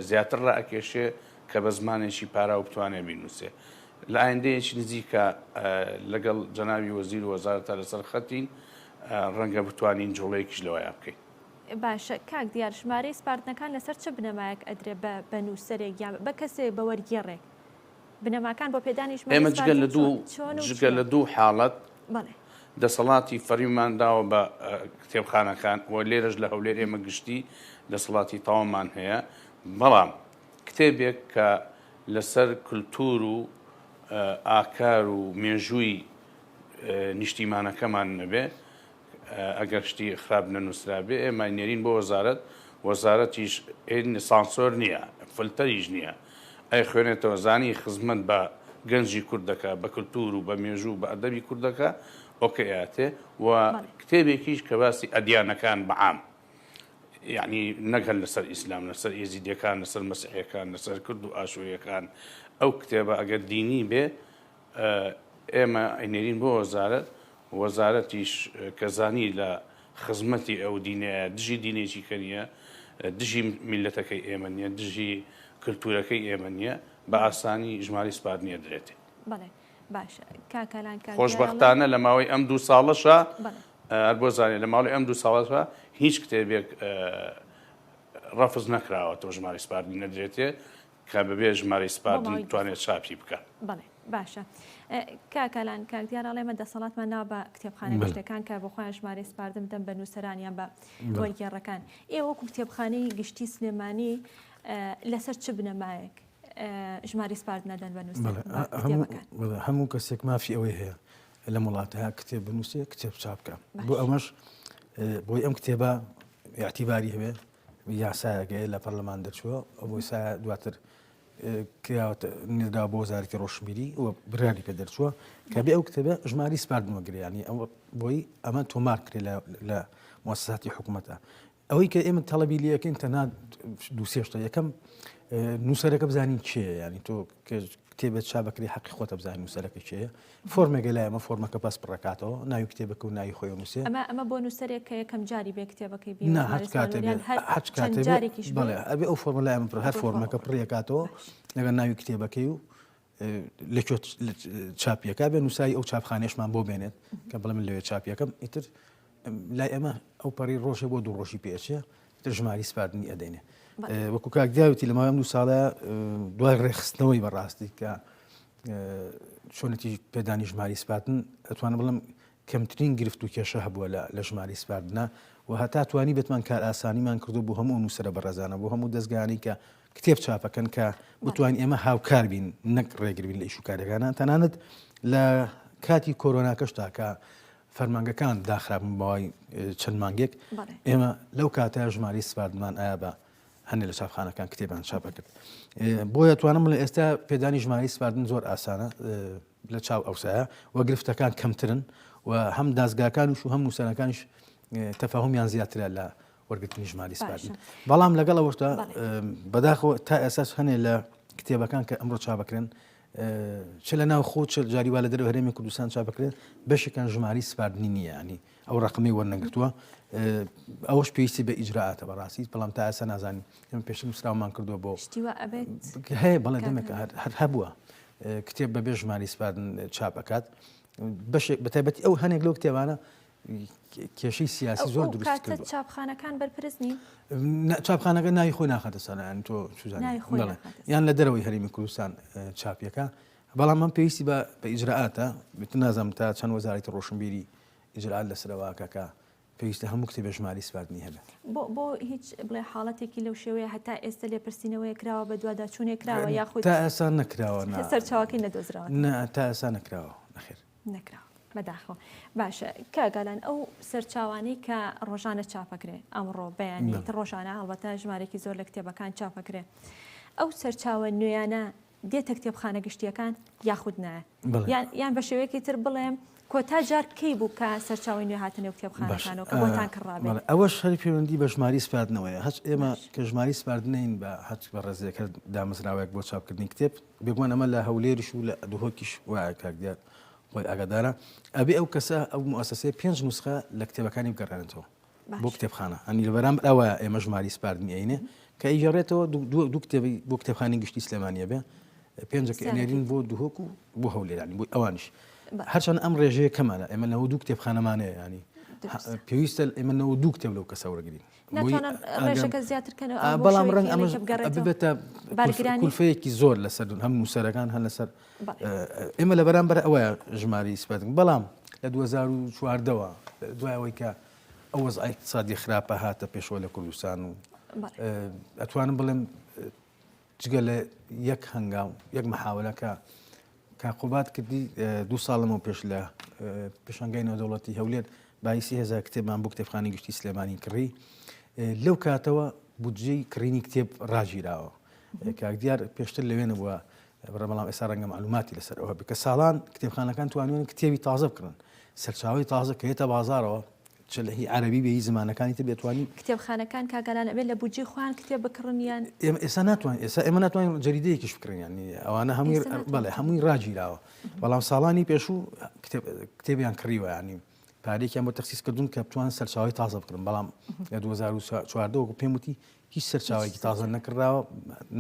Speaker 2: زیاتر ڕائەکێشێ کە بە زمانێکی پاراو بتوانێ بینووسێ. لە ئایندەیەکی نزیکا لەگەڵ جەنابی وەزیر و وەزارەتا لەسەر خەتین. ڕەنگە بتوانین جوڵەیەکیش لەوەیا بکەین. باشە کاک
Speaker 1: دیار ژمارەی سپاردنەکان لەسەر چ بنەمایەک ئەدرێ بە بە نووسەرێک یا بە کەسێ بە وەرگێڕێک بنەماکان بۆ پێدانی ژمارەی ئێمە جگە لە دوو چۆن
Speaker 2: جگە لە دوو حاڵەت بەڵێ دەسەڵاتی فەرمیمان داوە بە کتێبخانەکان و لێرەش لە هەولێر ئێمە گشتی دەسەڵاتی تەوامان هەیە بەڵام کتێبێک کە لەسەر کللتور و ئاکار و مێژووی نیشتیمانەکەمان نەبێ ئەگەر شتی خراپ نەنووسرابێ ئێمە نێرین بۆ وەزارەت وەزارەتیش سانسۆر نییە فلتەریش نییە ئەی خوێنێتەوە زانی خزمەت بە گەنجی کوردەکە بە کللتور و بە مێژوو بە ئەدەبی کوردەکە ئۆکەیاتێ و کتێبێکیش کە باسی ئەدیانەکان بەعام یعنی نەگەن لەسەر ئیسلام لەسەر ئێزیدەکان لەسەر مەسیحەکان لەسەر کرد و ئاشوریەکان ئەو کتێبە ئەگەر دینی بێ ئێمە ئەینێرین بۆ وەزارەت، وەزارەتیش کە زانی لە خزمەتی ئەو دینەیە، دژی دینێکی کە نییە، دژی میللەتەکەی ئێمە نییە، دژی کلتوورەکەی ئێمە نییە، بە ئاسانی ژمارەی سپارد نێردرێتێ. بەڵێ باشە کاک ئالان
Speaker 1: کاک دیار ئەڵێ. خۆشبەختانە لە
Speaker 2: ماوەی ئەم دوو ساڵەشا، هەر بۆ زانیاری، لە ماوەی ئەم دوو ساڵەشا هیچ کتێبێک ڕەفز نەکراوەتەوە ژمارەی سپاردی نەدرێتێ، کە بەبێ ژمارەی سپاردن بتوانێت
Speaker 1: چاپی بکە. بەڵێ باشە کاکالان کاک دیار ئەڵێ مە دەسەڵاتمان ناو بە کتێبخانە گشتەکان کە بۆ خۆیان ژمارەی سپاردن بدەن بە نووسەرانیان بە وەرگێڕەکان ئێوە کتێبخانەی گشتی سلێمانی لەسەر چ بنەمایەک ژماری سپارت نەدەن بە نووسەر هەموو کەسێک
Speaker 3: مافی ئەوەی هەیە لە وڵاتە کتێب بنووسێ کتێب چاپکە بۆ ئەمەش بۆی ئەم کتێبە یاعتیباری هەوێ یاسایەکەی لە پەرلەمان دەرچووە ئەو یاسایە دواتر کراوەتە نێرداوە بۆ وەزارەتی ڕۆشنبیری و برانی پێ دەرچووە کە بێ ئەو کتێبە ژماری سپاردنەوە گریانی ئەو بۆی ئەمە تۆمار کرێ لە مۆساتی حکوومەتە ئەوەی کە ئێمە تەڵەبی لەکەین تەنها دووسێشتە یەکەم نووسەرەکە بزانین چێ ینی تۆ کە کتێبێک چاپ بکرێ حەقی خۆتە بزانین نووسەرەکە کێیە فۆرمێکە لای ئەمە فۆرمەکە پاس پڕەکاتەوە ناوی کتێبەکە و ناوی خۆی نووسێ ئەمە
Speaker 1: ئەمە بۆ نووسەرێک کە یەکەم جاری بێ کتێبەکەی بێ نه هەر کاتێ بێ هەر
Speaker 3: کاتێ جارێکیش بڵێ ئەبێ ئەو فۆرمە لای ئەمە پڕ هەر فۆرمەکە پڕیەکاتەوە لەگەڵ ناوی کتێبەکەی و لە چاپیەکە بێ نووسایی ئەو چاپخانێشمان بۆ بێنێت کە بڵێ من لەوێ چاپیەکەم ئیتر لای ئێمە ئەو پەڕی ڕۆژێ بۆ دوو ڕۆژی پێچێ تر ژماری سپاردنی ئەدەینێ وەکو کاکداوتی لە ماوەم دوو ساڵە دوای ڕێخستنەوەی بەڕاستی کە چۆنێتی پێدانی ژماری سپاتن ئەتوانم بڵم کەمترین گرفت و کێشە هەبووە لە ژماری سپاردنە و هەتا توانی بتمان کار ئاسانیمان کردو بۆ هەموو نووسرە بەڕێزانە بۆ هەموو دەستگانی کە کتێب چاپەکەن کە بتوانین ئێمە هاوکار بین نەک ڕێگربین لە ئیشوکارەکانە تەنانەت لە کاتی کۆرۆناکەش تاکە فەرمانگەکان داخرابوون بەوای چەند مانگێک ئێمە لەو کاتە ژماری سپاردمان ئایا بە هەندێک لە چاپخانەکان کتێبان چاپەکرد بۆیە توانم بڵێ ئێستا پێدانی ژماری سپاردن زۆر ئاسانە لە چاو ئەوسایە و گرفتەکان کەمترن و هەم دازگاکانش و هەم نووسەرەکانش تەفاهمیان زیاترە لە وەرگرتنی ژماری سپاردن بەڵام لەگەڵ ئەوەشتا بەداخەوە تا ئێساس هەنێ لە کتێبەکان کە ئەمڕۆ چابکرن چ لە ناو خۆ چل جاری وا لە دەرو هەرێمی کوردستان چا بکرێت بەشێکان ژماری سپاردنی نییە ینی ئەو ڕقمی وەرنەگرتووە ئەوش پێویستی بە ئیجرراعاتە بەڕاستی بەڵام تا ئاسا نازانین ئەم پێش مسراومان کردووە بۆ هەیە بەڵێ دەمێک هەر هەبووە کتێب بە بێژمانی سپاردن چاپ ئەکات بەشێک بەتابەتی ئەو هەنێک لەو کتێبانە کێشەی سیاسی زۆر دروست کردووە. ئەو کاتە چاپخانەکان بەرپرس
Speaker 1: نین؟ نە، چاپخانەکە
Speaker 3: ناوی خۆی ناخاتە سەر، یانی تۆ چوزانی. ناوی خۆی بەڵێ. ناخاتە سەر. یان لە دەرەوەی هەرێمی کوردستان چاپی ئەکا. بەڵام ئەم پێویستی بە بە ئیجرائاتە، بت نازانم تا چەند وەزارەتی ڕۆشنبیری ئیجرائات لەسەر ئەوە ئەکا کە پێویستە هەموو کتێبێ ژمارەی سپاردنی هەبێ. بۆ، بۆ هیچ
Speaker 1: بڵێ حاڵەتێکی لەو شێوەیە هەتا ئێستە لێپرسینەوەیەک کراوە، بەدواداچوونێک کراوە یاخود. تا ئێستا نەکراوە،
Speaker 3: نا. سەرچاوەکەی
Speaker 1: نەدۆزراوەتەوە. نە، تا ئێستا نەکراوە،
Speaker 3: نەخێر. نەکراوە
Speaker 1: بەداخەوە باشە کاگالان ئەو سەرچاوانەی کە ڕۆژانە چاپەکرێ ئەمڕۆ بەیانی ڕۆژانە هەڵبەتە ژمارێکی زۆر لە کتێبەکان چاپەکرێ ئەو سەرچاوە نوێیانە دێتە کتێبخانە گشتیەکان یاخود نایە یان بە شێوەیەکی تر بڵێم کۆتا جار کەی بوو کە سەرچاوی نوێ هاتنێ و کتێبخانەکانەوە کە بۆتان کڕابێ ئەوە شەری پەیوەندی
Speaker 3: بە ژماری سپاردنەوەیە هەچ ئێمە کە ژماری سپاردنین بە هەچ بە ڕێزیەکە دامەزراوەیەک بۆ چاپکردنی کتێب بێگومان ئەمە لە هەولێریش و لە دهۆکیش وایە کاک دیار خۆی ئاگادارە ئەبێ ئەو کەسە ئەو موسسەیە پێنج نوسخە لە کتێبەکانی بگەڕێنێتەوە بۆ باش کتێبخانە ئەنی لە بەرامبر ئەوە ئێمە ژماری سپاردنی عینێ کە ئیگەڕێتەوە دوو دوو- دوو کتێبی بۆ کتێبخانی گشتی سلێمانیە بێ پێنجەکە سیانەکەی ئەنێرین بۆ دهۆک و بۆ هەولێرانی بۆی ئەوانیش باش هەرچەند ئەم ڕێژەیە کەمانە ئێمە نەوە دوو کتێبخانەمانەیە ینی دروستە پێویستە ئێمە نەوە دوو کتێب لەو کەسە وەرگین
Speaker 1: بەڵام ڕەنگ ئەمە
Speaker 3: ببێتە کولفەیەکی زۆر لەسەر هەم نووسەرەکان هەن لەسەر ئێمە لە بەرامبەر ئەوە ژماری سپەتن بەڵام لە 2014ەوە دوایەوەی کە ئەو وەز ئایقتصادی خراپە هاتە پێشەوە لە کوردستان و ئەتوانم بڵێم جگە لە یەک هەنگاو یەک محاولە کە کاک قوباد کردی دوو ساڵ لەمەو پێش لە پێشەنگای نێودەوڵەتی هەولێر بایسی هزار کتێبمان بۆ کتێبخانی گشتی سلێمانی کڕی لەو کاتەوە بودجەی کڕینی کتێب ڕاگیراوە کاک دیار پێشتر لەوێ نەبووە بەڵام ئێستا ڕەنگە معلوماتی لەسەر ئەوە بکە ساڵان کتێبخانەکان توانیان کتێبی تازە بکڕن سەرچاوی تازە کە هێتە بازارەوە چ لە هی عەرەبی بێ هی زمانەکانی تر بێ توانیم. کتێبخانەکان کاگالان
Speaker 1: ئەبێ لە بودجەی خۆیان کتێب بکڕن یان. ئێمە ئێستا ناتوانین
Speaker 3: ئێستا ئێمە ناتوانین جەریدەیەکیش بکڕین یانی ئەوانە هەمووی ئێستا ناتوانین. بەڵێ هەمووی ڕاگیراوە بەڵام ساڵانی پێشوو کتێب کتێبیان کڕیوە یانی پارێکیان بۆ تەخسیس کردوون کە بتوان سەرچاوی تازە بکڕن بەڵام لە 2014 وەکو پێم وتی هیچ سەرچاوێکی تازە نەکراوە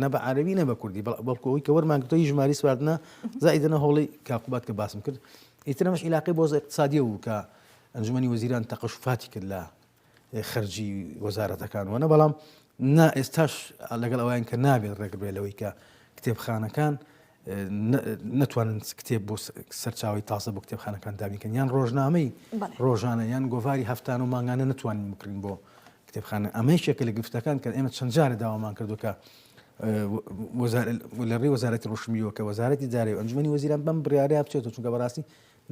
Speaker 3: نە بە عەرەبی نە بە کوردی بەڵ- بەڵکو ئەوەی کە وەرمانگرتەوە هی ژماری سواردنە زائیدەنە هۆڵی کاقوبات کە باسم کرد ئیتر ئەمەش عیلاقەی بۆ زە اقتصادیە بوو کە ئەنجومەنی وەزیران تەقەشوفاتی کرد لە خەرجی وەزارەتەکان وەە بەڵام نا ئێستاش لەگەڵ ئەوان کە نابێت ڕێگرێ لەوەی کە کتێبخانەکان نتوانن کتێب بۆ سەرچاوی تازە بۆ کتێبخانەکان دابیکەن یان ڕۆژنامەی ڕۆژانە یان گۆڤاری هەفتان و مانگانە نتوانین بکرین بۆ کتێبخانە ئەمەی شێکە لە گفتەکان کە ئێمە چەند جارە داوامان کردوکە لە ڕێ وەزارەتی ڕشمیەوە کە وەزارەتی دارێ ئەنجومی وەزیران بەم بڕاریا بچێت چونکە بەڕاستی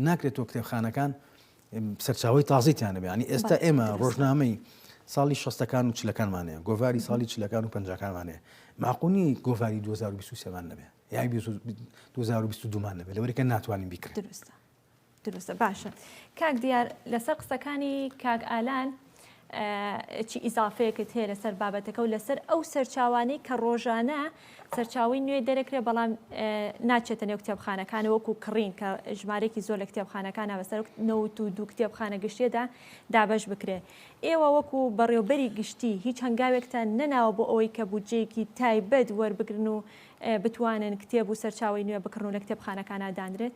Speaker 3: ناکرێتەوە کتێبخانەکان سەرچاوی تازیتیان نەبێ ینی ئێستا ئێمە ڕۆژنامەی ساڵی شەستەکان و چلەکانمانەیە گۆڤاری ساڵی چلەکان و پنجەکانمانەیە ماقونی گۆڤاری 2023مان نەبێ یا 2022مان نەبێت لەوەێکە ناتوانین بیکرێت درستە درستە
Speaker 1: باشە کاک دیار لەسەر قسەکانی کاک ئالان چی ئیزافەیەکت هەیە لەسەر بابەتەکە و لەسەر ئەو سەرچاوانەی کە ڕۆژانە سەرچاوی نوێ دەرەکرێ بەڵام ناچێتە نێو کتێبخانەکان وەکو کڕین کە ژمارێکی زۆر لە کتێبخانەکان بەسەر نەوت و دوو کتێبخانە گشتێدا دابش بکرێ ئێوە وەکو بەڕێوبەری گشتی هیچ هەنگاوێکتان نەناوە بۆ ئەوەی کە بودجەیەکی تایبەت وەربگرن و بتوانن کتێب و سەرچاوی نوێ بکڕن و لە کتێبخانەکانە دانرێت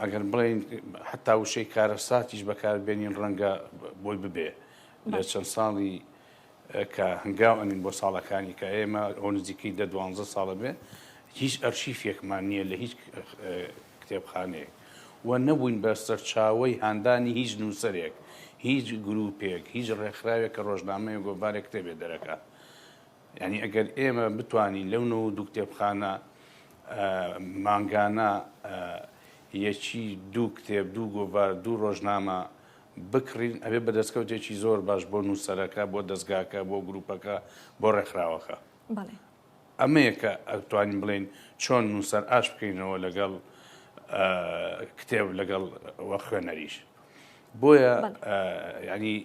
Speaker 2: ئەگەر بڵێن حتا وشەی کارەساتیش بەکاربێنین ڕەنگە بۆی ببێ لە چەند ساڵی کە هەنگاو ئەنین بۆ ساڵەکانی کە ئێمە ئەو نزیکەی دە دوانزە ساڵە بێ هیچ ئەرشیفێکمان نییە لە هیچ کتێبخانەیە و نەبووین بە سەرچاوی هاندانی هیچ نووسەرێک هیچ گروپێک هیچ ڕێکخراوێک کە ڕۆژنامەیە گۆڤارێک کتێبێ دەرەکە یانی ئەگەر ئێمە بتوانین لەو نە و دوو کتێبخانە مانگانە یەکی دوو کتێب دوو گۆڤار دوو ڕۆژنامە بکڕین ئەبێ بە دەستکەوتێکی زۆر باش بۆ نووسەرەکە بۆ دەستگاکە بۆ گروپەکە بۆ ڕێکخراوەکە ئەمەیەکە ئەتوانین بڵین چۆن نووسەر ئاش بکەینەوە لەگەڵ کتێب لەگەڵ خوێنەریش بۆیە ینی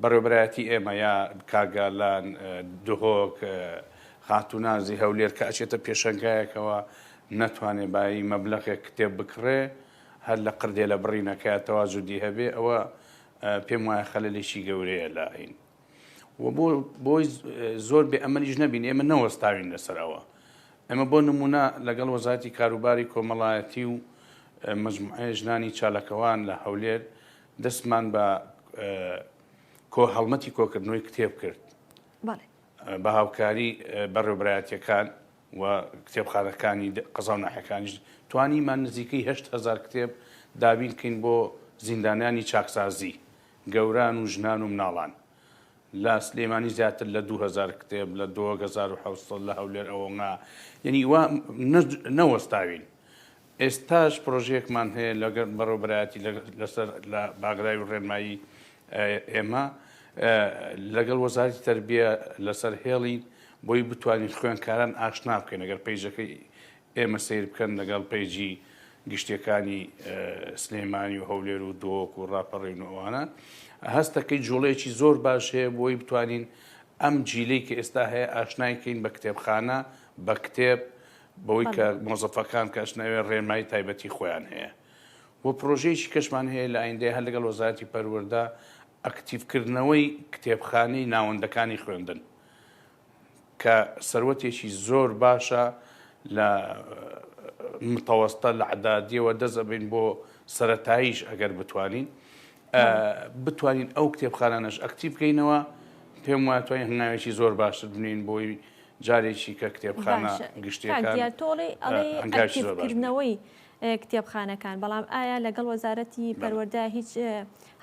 Speaker 2: بەڕێوەبەرایەتی ئێمە یا کارگالان، دهۆک، خاتوو نازی هەولێر کە ئەچێتە پێشەنگایەکەوە نەتوانێ بایی مەبلەغێک کتێب بکڕێ هەر لە قردێلە بڕینەکەیا تەوازودی هەبێ ئەوە پێم وایە خەلەلێکی گەورەیە لە ئاین و بۆ بۆی زۆر بێ ئەمەلیش نەبین ئێمە نەوەستاوین لەسەر ئەوە ئەمە بۆ نمونە لەگەڵ وەزاتی کاروباری کۆمەڵایەتی و مجموعەیە ژنانی چالەکەوان لە هەولێر دەستمان بە کۆ هەڵمەتی کۆکردنەوەی کتێب کرد بە هاوکاری بەڕێوبرایەتەکان و کتێبخانەکانی قەزا و ناحەکانیش توانیمان نزیکەی هزار کتێب دابین کەین بۆ زیندانیانی چاکسازی گەوران و ژنان و مناڵان لە سلێمانی زیاتر لە 2000 کتێب لە 2000 لە هەولێر ئەوەنا یعنی وا نەوەستاوین ئێستاش پرۆژەیەکمان هەیە لەگەڵ بەڕێوەبەرایەتی لەسەر لە باگراوی و ڕێنمایی ئێمە لەگەڵ وەزارەتی تەربیە لەسەر هێڵین بۆی بتوانین خوێنکاران ئاشنا بکەین ئەگەر پەیجەکەی ئێمە سیر بکەن لەگەڵ پەیجی گشتەکانی سلێمانی و هەولێر و دۆک و ڕاپەڕین و ئەوانە هەستەکەی جوڵەیەکی زۆر باش هەیە بۆی بتوانین ئەم جیلەی کە ئێستا هەیە ئاشنایکەین بە کتێبخانە بە کتێب بەوەی کە مۆزەفەکان کە ئەشناوێ ڕێنمایی تایبەتی خۆیان هەیە و پرۆژەیەکی کەشمان هەیە لە ئایندەیە هەر لەگەڵ وەزارەتی پەروەردە ئەکتیڤکردنەوەی کتێبخانەی ناوەندەکانی خوێندن کە سەروەتێکی زۆر باشە لە متەوەستە لە عدادیەوە دەزەبین بۆ سەتاییش ئەگەر بتوانین بتوانین ئەو کتێبخانانەش ئەکتیڤ بکەینەوە پێم واتوانین هەنگاوێکی زۆر باشتر بنین بۆی جارێکی کە کتێبخانە گشتیەکان ئەنگاژکردنەوەی
Speaker 1: کتێبخانەکان بەڵام ئایا لەگەڵ وەزارەتی پەروەەردە هیچ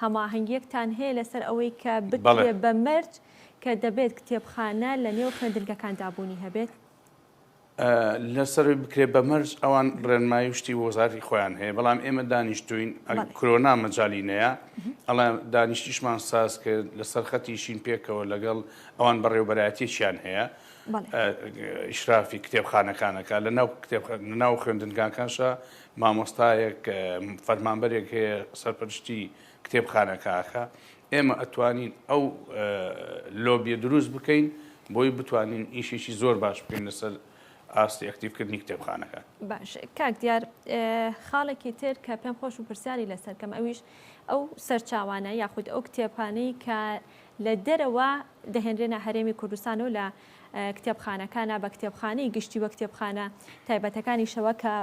Speaker 1: هەماهنگگیەکتان هەیە لەسەر ئەوەی کە بڵێ بە مەرج کە دەبێت کتێبخانە لە نێو خوێندنگەکان دابوونی هەبێت
Speaker 2: لەسەروی بکرێت بە مەرج ئەوان ڕێنمایی شتی وەزاری خۆیان هەیە بەڵام ئێمە دانیشتوین کرۆنا مەجاالینەیە ئەڵێ دانیشتیشمان ساز کرد لەسەر خەتیشین پێکەوە لەگەڵ ئەوان بەڕێوبەرایەتیەکیان هەیە ئیشرافی کتێبخانەکانەکە لە ناو ناو خوێندنگاکانشە مامۆستایەک فەرمانبەرێک هەیە سەرپەرشتی کتێبخانەکەکە ئێمە ئەتوانین ئەو لۆبیە دروست بکەین بۆی بتوانین ئیشێکی زۆر باش بکەین لەسەر ئاستی ئەکتیفکردنی کتێبخانەکان باش کاک
Speaker 1: دیار خاڵێکی تر کە پێم خۆش و پرسیاری لەسەرکەم ئەویش ئەو سەرچاوانە یاخود ئەو کتێبانەی کە لە دەرەوە دەهێنرێنە هەرێمی کوردستان و لە کتێبخانەکانە بە کتێبخانەی گشتی و کتێبخانە تایبەتەکانیشەوە کە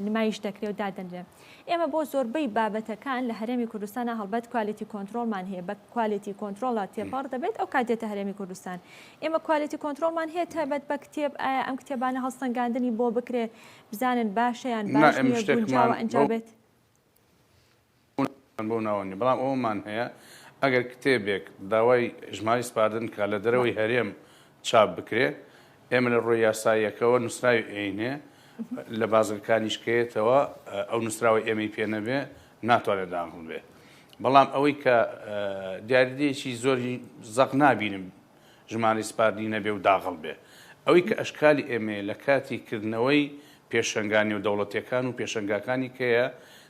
Speaker 1: نمایش دەکرێ و دادەنرێن. ئێمە بۆ زۆربەی بابەتەکان لە هەرێمی کوردستانە هەڵبەت کوالێتی کۆنترۆڵمان هەیە بە کوالێتی کۆنترۆڵە تێپەڕ دەبێت ئەو کات دێتە هەرێمی کوردستان ئێمە کوالێتی کۆنترۆڵمان هەیە تایبەت بە کتێب ئایا ئەم کتێبانە هەڵسەنگاندنی بۆ بکرێت بزانن باشە یان باش نییە گونجاوە ئەنجا بێت. پوونتمان
Speaker 2: بەو ناوە نیە بەڵام ئەوەمان هەیە ئەگەر کتێبێک داوای ژمارەی سپاردن بکات لە دەرەوەی هەرێم چاپ بکرێ ئێمە لە ڕووی یاساییەکەوە نووسراوی ئەینێ لە بازگەکانیش کەیەتەوە ئەو نووسراوەی ئێمەی پێ نەبێ ناتوانێت داخڵ بێ بەڵام ئەوەی کە دیاریدەیەکی زۆری زەق نابینم ژمارەی سپاردنی نەبێ و داغڵ بێ ئەوەی کە ئەشکالی ئێمەیە لە کاتی کردنەوەی پێشەنگا نێودەوڵەتیەکان و پێشەنگاکانی کەیە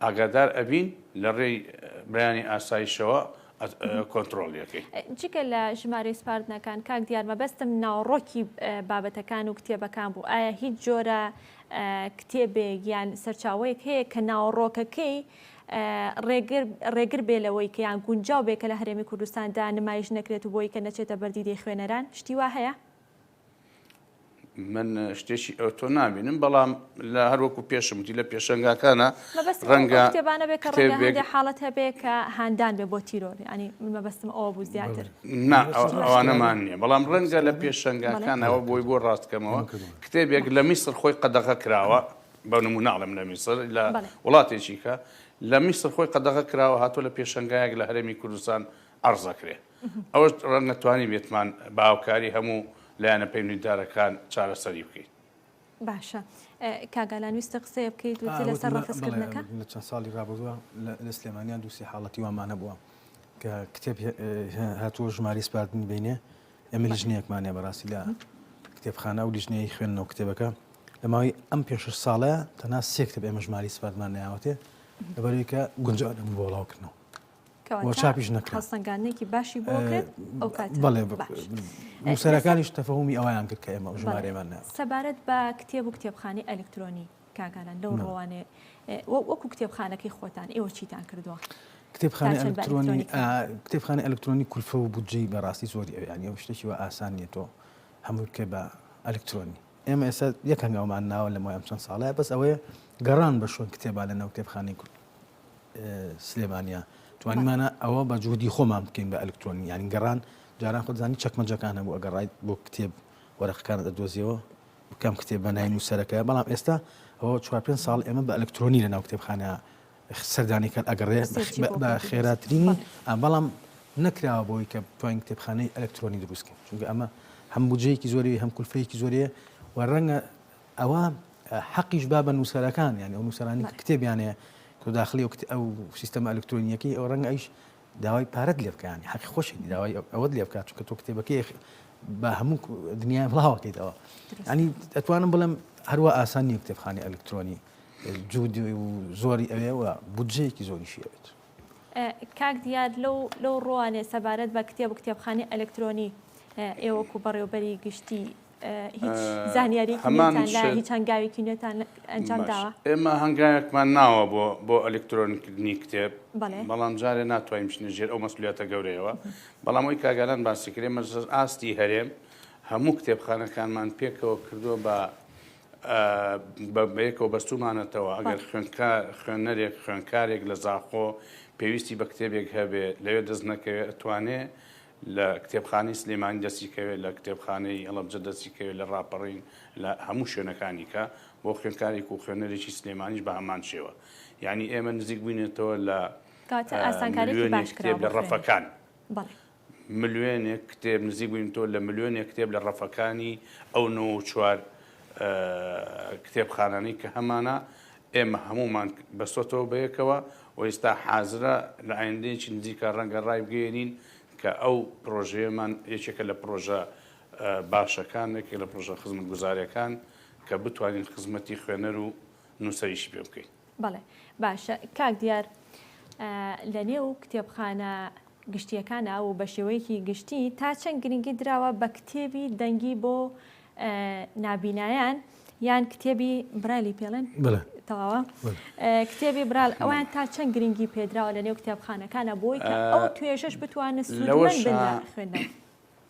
Speaker 2: ئاگادار ئەبین لە ڕێی بەیانی ئاسایشەوە کۆنتڕۆڵی ئەکەین. جگە لە
Speaker 1: ژمارەی سپاردنەکان کاک دیار مەبەستم ناوەڕۆکی بابەتەکان و کتێبەکان بوو ئایا هیچ جۆرە کتێبێک یان سەرچاوەیەک هەیە کە ناوەڕۆکەکەی ڕێگر ڕێگر بێ لەوەی کە یان گونجاو بێ کە لە هەرێمی کوردستاندا نمایش نەکرێت و بۆی کە نەچێتە بەر دیدەی خوێنەران شتی وا هەیە؟
Speaker 2: من شتێکی ئەوتۆ نابینم بەڵام لە هەروەکو پێشم وتی لە پێشنگاکانە ڕەنگە
Speaker 1: شتێبانە بێت کە ڕێگە حاڵەت هەبێت کە هاندان بێ بۆ تیرۆر ینی من مەبەستم ئەوە بوو زیاتر ئەوانەمان
Speaker 2: نییە بەڵام ڕەنگە لە پێشنگاکانەوە بۆی بۆ ڕاستکەمەوە کتێبێک لە میسر خۆی قەدەغە کراوە بە نموناڵم لە میسر لە وڵاتێکیکە لە میسر خۆی قەدەغە کراوە هاتوو لە پێشنگایەک لە هەرێمی کوردستان ئەرزەکرێ ئەوەش ڕەنگە توانیبێتمان بە هاوکاری هەموو لایەنە پەیوەندیدارەکان چارەسەری بکەین. باشە
Speaker 1: کاگالان ویستە قسەیە بکەیت وتی لەسەر ڕەفزکردنەکە لە چەند ساڵی ڕابردووە
Speaker 3: لە سلێمانیان دووسی حاڵەتی وامان هەبووە کە کتێب هاتووە ژماری سپاردنی بینێ ئەمە لیژنەیەکمانە بەڕاستی لە کتێبخانە و لیژنەیە خوێندنەوە کتێبەکە لە ماوەی ئەم پێش ساڵە تەنا سێکتب ئێمە ژماری سپاردمان ناوەتێ لەبەرەوەی کە گونجانم بۆ بڵاوکردنەوە چاپیش نەکراسەنگانێکی
Speaker 1: باشی
Speaker 3: بۆکردسەرەکانیش تەفەهمی ئەویان کرد کە ئێمە ژمارێمان سەبارەت بە کتێب
Speaker 1: و کتێبخانی ئەلکترۆنی کاگالان لەو ڕوانێ وەکو کتێبخانەکەی خۆتان ئێوە چیتان کردووە کتێبخانە ئەلکترۆنی
Speaker 3: کتێبخانە ئەلکترۆنی کولفە و بودجەی بەڕاستی زۆری ئەویان ئەو شتێکی و ئاسان نیە تۆ هەموو کە بە ئەلکترۆنی ئێمە ئێستا یەک هەنگاومان ناوە لە مای ئەم چەند ساڵەیە بەس ئەوەیە گەڕان بە شوێن کتێبا لە ناو کتێبخانەی کورد سلێمانیا توانیمانە ئەوە بە جوودی خۆمان بکەین بە ئەلکترۆنی یانی گەڕان جاران خۆزانانی چەکمەجەکان هەبوو ئەگەڕایت بۆ کتێب وەرەقەکان دەدۆزیەوە بکەم کتێب بە ناین و سەرەکە بەڵام ئێستا ئەوە چوار پێ ساڵ ئێمە بە ئەلکترۆنی لە ناو کتێبخانە سەردانی کات ئەگەڕێ بە خێراترینی بەڵام نەکراوە بۆی کە بتوانین کتێبخانەی ئەلکترۆنی دروستکەین چونکە ئەمە هەم بجەیەکی زۆری هەم کولفەیەکی زۆرەیە و ڕەنگە ئەوە حەقیش با بە نووسەرەکان یان ئەو نووسرانی کتێبیانەیە کۆ داخلی وکت ئەو سیستەمە ئەلکترۆنیەکەی ئەو ڕەنگە ئەیش داوای پارەت لێ بکەیان حەقی خۆشی داوای ئەوەت لێ بکات چونکە تۆ کتێبەکەی بە هەموو دنیای بڵاوەکەیتەوە ئەنی ئەتوانم بڵم هەروە ئاسان نیە کتێبخانی ئەلکترۆنی جوود زۆری ئەوێ و بودجەیەکی زۆریشی ئەوێت. کاک
Speaker 1: دیار لەو لەو ڕوانێ سەبارەت بە کتێب و کتێبخانی ئەلکترۆنی ئێ وەکو بەڕێوبەری گشتی هیچ زانیاری هەنگاوێکی نوێتان ئەنجام داوە ئێمە هەنگاوێکمان
Speaker 2: ناوە بۆ بۆ ئەلکترۆنکردنی کتێب بەڵام جارێ ناتوانین بچنە ژێر ئەو مەسلیاتە گەورەیەوە بەڵام ئەوی کاگالان باسی کرێ مەرزەز ئاستی هەرێم هەموو کتێبخانەکانمان پێکەوە کردووە بە بەیەکەوە بەستومانەتەوە ئەگەر خوێنکە خوێنەرێک خوێنکارێک لە زاخۆ پێویستی بە کتێبێک هەبێ لەوێ دەست نەکەوێت ئەتوانێ لە کتێبخانەی سلێمانی دەستی کەوێت لە کتێبخانەی ئەڵەبجە دەستی کەوێت لە ڕاپەڕین لە هەموو شوێنەکانی کە بۆ خوێنکارێک و خوێنەرێکی سلێمانیش بە هەمان شێوە یعنی ئێمە نزیک بووینێتەوە لە کاتە ئاسانکاری باش کتێب لە ڕەفەکان ملوێنێک کتێب نزیک بووین تۆ لە ملوێنێک کتێب لە ڕەفەکانی ئەو نۆ و چوار کتێبخانانی کە هەمانە ئێمە هەمومان بەسۆتەوە بەیەکەوە و ئێستا حازرە لە ئایندەیەکی نزیکە ڕەنگە ڕای بگەێنین کە ئەو پرۆژەیەمان یەکێکە لە پرۆژە باشەکان یەکێک لە پرۆژە خزمەت گوزارەکان کە بتوانین خزمەتی خوێنەر و نووسەریشی پێ بکەین. بەڵێ باشە
Speaker 1: کاک دیار لە نێو کتێبخانە گشتیەکانە و بە شێوەیەکی گشتی تا چەند گرنگی دراوە بە کتێبی دەنگی بۆ نابینایان یان کتێبی برایلی پێڵێن تەواوە کتێبی برال ئەوان تا چەند گرنگی پێدراوە لە نێو کتێبخانەکانە بۆی کە ئەو توێژش بتوانە سوود خوێندن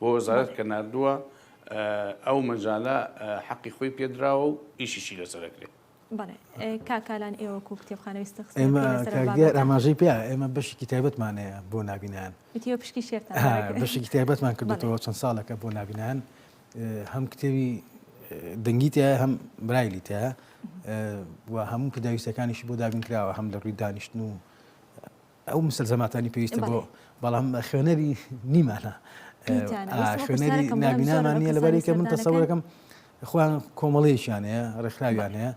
Speaker 2: بۆ وەزارەت کە ناردووە ئەو مەجالە حەقی خۆی پێدراوە و ئیشیشی لەسەر
Speaker 1: ئەکرێت. بەڵێ کاک ئالان ئێوە کو کتێبخانە
Speaker 3: ویستە قسە ئێمە لەسەر کاک بابەتە. دیار ئاماژەی پێ ئێمە بەشێکی تایبەتمان هەیە بۆ نابینان. ئیتر ئێوە پشکی شێرتان
Speaker 1: ها دەکرد. بەشێکی تایبەتمان
Speaker 3: کردووەتەوە چەند ساڵێکە بۆ نابینان اه، هەم کتێبی اه، دەنگی تایە هەم برایلی تایە اه، و هەموو پێداویستەکانیشی بۆ دابین کراوە هەم لە ڕووی دانیشتن و ئەو مستەلزەماتانی پێویستە بۆ بەڵام خوێنەری نیمانە خوێنەری نابینامان نیە لەبەرێکە من تەسەورەکەم خوان کۆمەڵەیەکیان هەیە ڕێکخراویان هەیە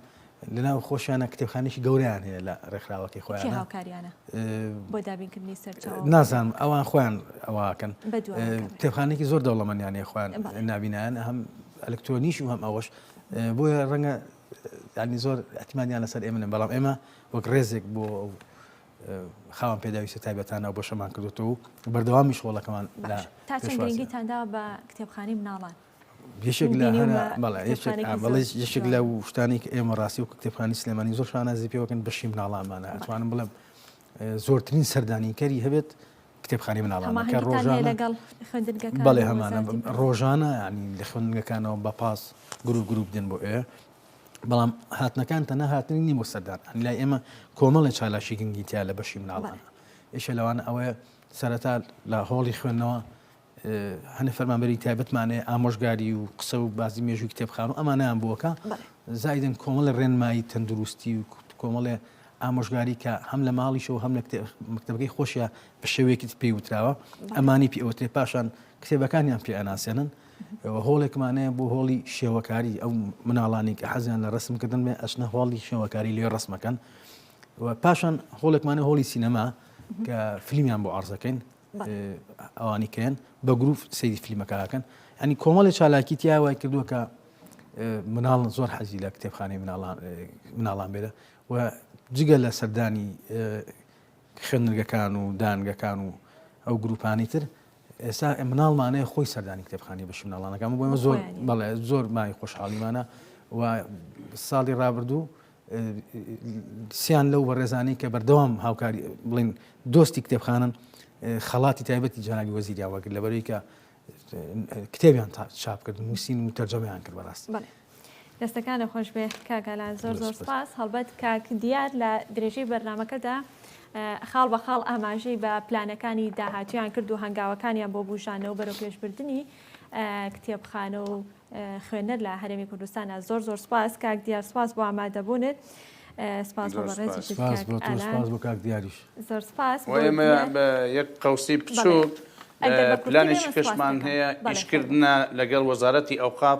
Speaker 3: لەناو خۆشیانە کتێبخانێکی گەوریان هەیە لە ڕێکخراوەکەی خۆیان هاوکاریانە
Speaker 1: بۆ دابینکردنی سەر نازانم ئەوان خۆیان
Speaker 3: ئەوواکەن کتێبخانێکی زۆر دەوڵەمەنیان هەیە خوان نابینیان هەم ئەلکترۆنیش و هەم ئەوەش بۆیە ڕەنگە ینی زۆر ئەتمانیان لەسەر ئێمە بەڵام ئێمە وەک ڕێزێک بۆ خاوەن پێداویستە تایبەتانە و بەشەمان کردوتەوە و بەردەوامیش هۆڵەکەمان گرنگیتان
Speaker 1: دا بە کتێبخانی
Speaker 3: مناڵان یەشێک لە یەشێک لە شتانی کە ئێمە ڕاستی و کتێبخانی سلێمانی زۆر شانازی پێوەکەن بەشی مناڵانمانە ئەتوانم بڵم زۆرترین سەردانیکەری هەبێت کتێبخانی مناڵانەکە ڕۆژان لەگەڵ بەڵێ هەمانە ڕۆژانە ینی لە خوێندنگەکانەوە بە پاس گرو گروپ دێن بۆ ئێ بەڵام هاتنەکان تەنە هاتنی نی بۆ سەردان لای ئێمە کۆمەڵی چالاکی گنگی تیا لە بەشی مناڵان ئێشە لەوان ئەوەیە سەرەتا لە هۆڵی خوێندنەوە هەنە فەرمانبەری تایبەتمانێ ئامۆژگاری و قسە و بازی مێژوی کتێبخان و ئەمانیان بووەکە زایدن کۆمەڵە ڕێنمایی تەندروستی و کۆمەڵێ ئامۆژگاری کە هەم لە ماڵیشەوە هەم لە مکتتەبەکەی خۆشیە بە شێوەیەکی پێی وتراوە ئەمانی پێوتێ پاشان کتێبەکانیان پێ ئەناسێنن و هۆڵێکمان هەیە بۆ هۆڵی شێوەکاری ئەو مناڵانی کە حەزیان لە ڕسم کردن بێ ئەچنە هۆڵی شێوەکاری لێ ڕسمەکەن و پاشان هۆڵێکمانە هۆڵی سینەما کە فلیمیان بۆ ئارزەکەین ئەوانی کەن بە گروپ سری فلیمەکەکەن ئەنی کۆمەڵی چالاکی تیاوای کردووە کە مناڵ زۆر حەزی لە کتێبخانەی مناڵان بێرە و جگە لە سەردانی خوێندنگەکان و دانگەکان و ئەو گروپانی تر ئێستا مناڵمانەیە خۆی سەردانی کتێبخانی بەشی مناڵانەکە ئەمە بۆمە زۆر بەڵێ زۆر مای خۆشحاڵیمانە و ساڵی ڕابردوو سیان لەو بەڕێزانانی کە بەردەوام هاوکاری بڵین دۆستی کتێبخانن خەڵاتی تایبەتی جنابی وەزیریا وەگر لەبەرەوەی کە کتێبیان چاپ کرد نووسین و تەرجەمیان کرد بەڕاست
Speaker 1: دەستەکانت خۆشبێ کاک ئالان زۆر زۆر سپاس هەڵبەت کاک دیار لە درێژەی بەرنمەکەدا خاڵ بە خاڵ ئاماژەی بە پلانەکانی داهاتویان کرد و هەنگاوەکانیان بۆ بژانەوە بەرەو پێشبردننی کتێبخانە و خوێنەر لە هەرێمی کوردستانە زۆر زۆر سپاس کاک دیار سپاس بۆ ئامادەبوونت. سپاس بۆ کاک
Speaker 3: دیاریش زۆر سپاس
Speaker 2: یەک قوسی بچووک پلانێکی کەشمان هەیە ئیشکردە لەگەڵ وەزارەتی ئەوقاف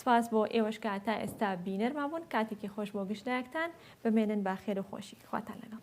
Speaker 1: سپاس بۆ ئێوەش کە تا ئێستا بینەرمان بوون کاتێکی خۆش بۆ گشت لایەکتان بمێنن بە خێر و خۆشی خواتان لەگەڵ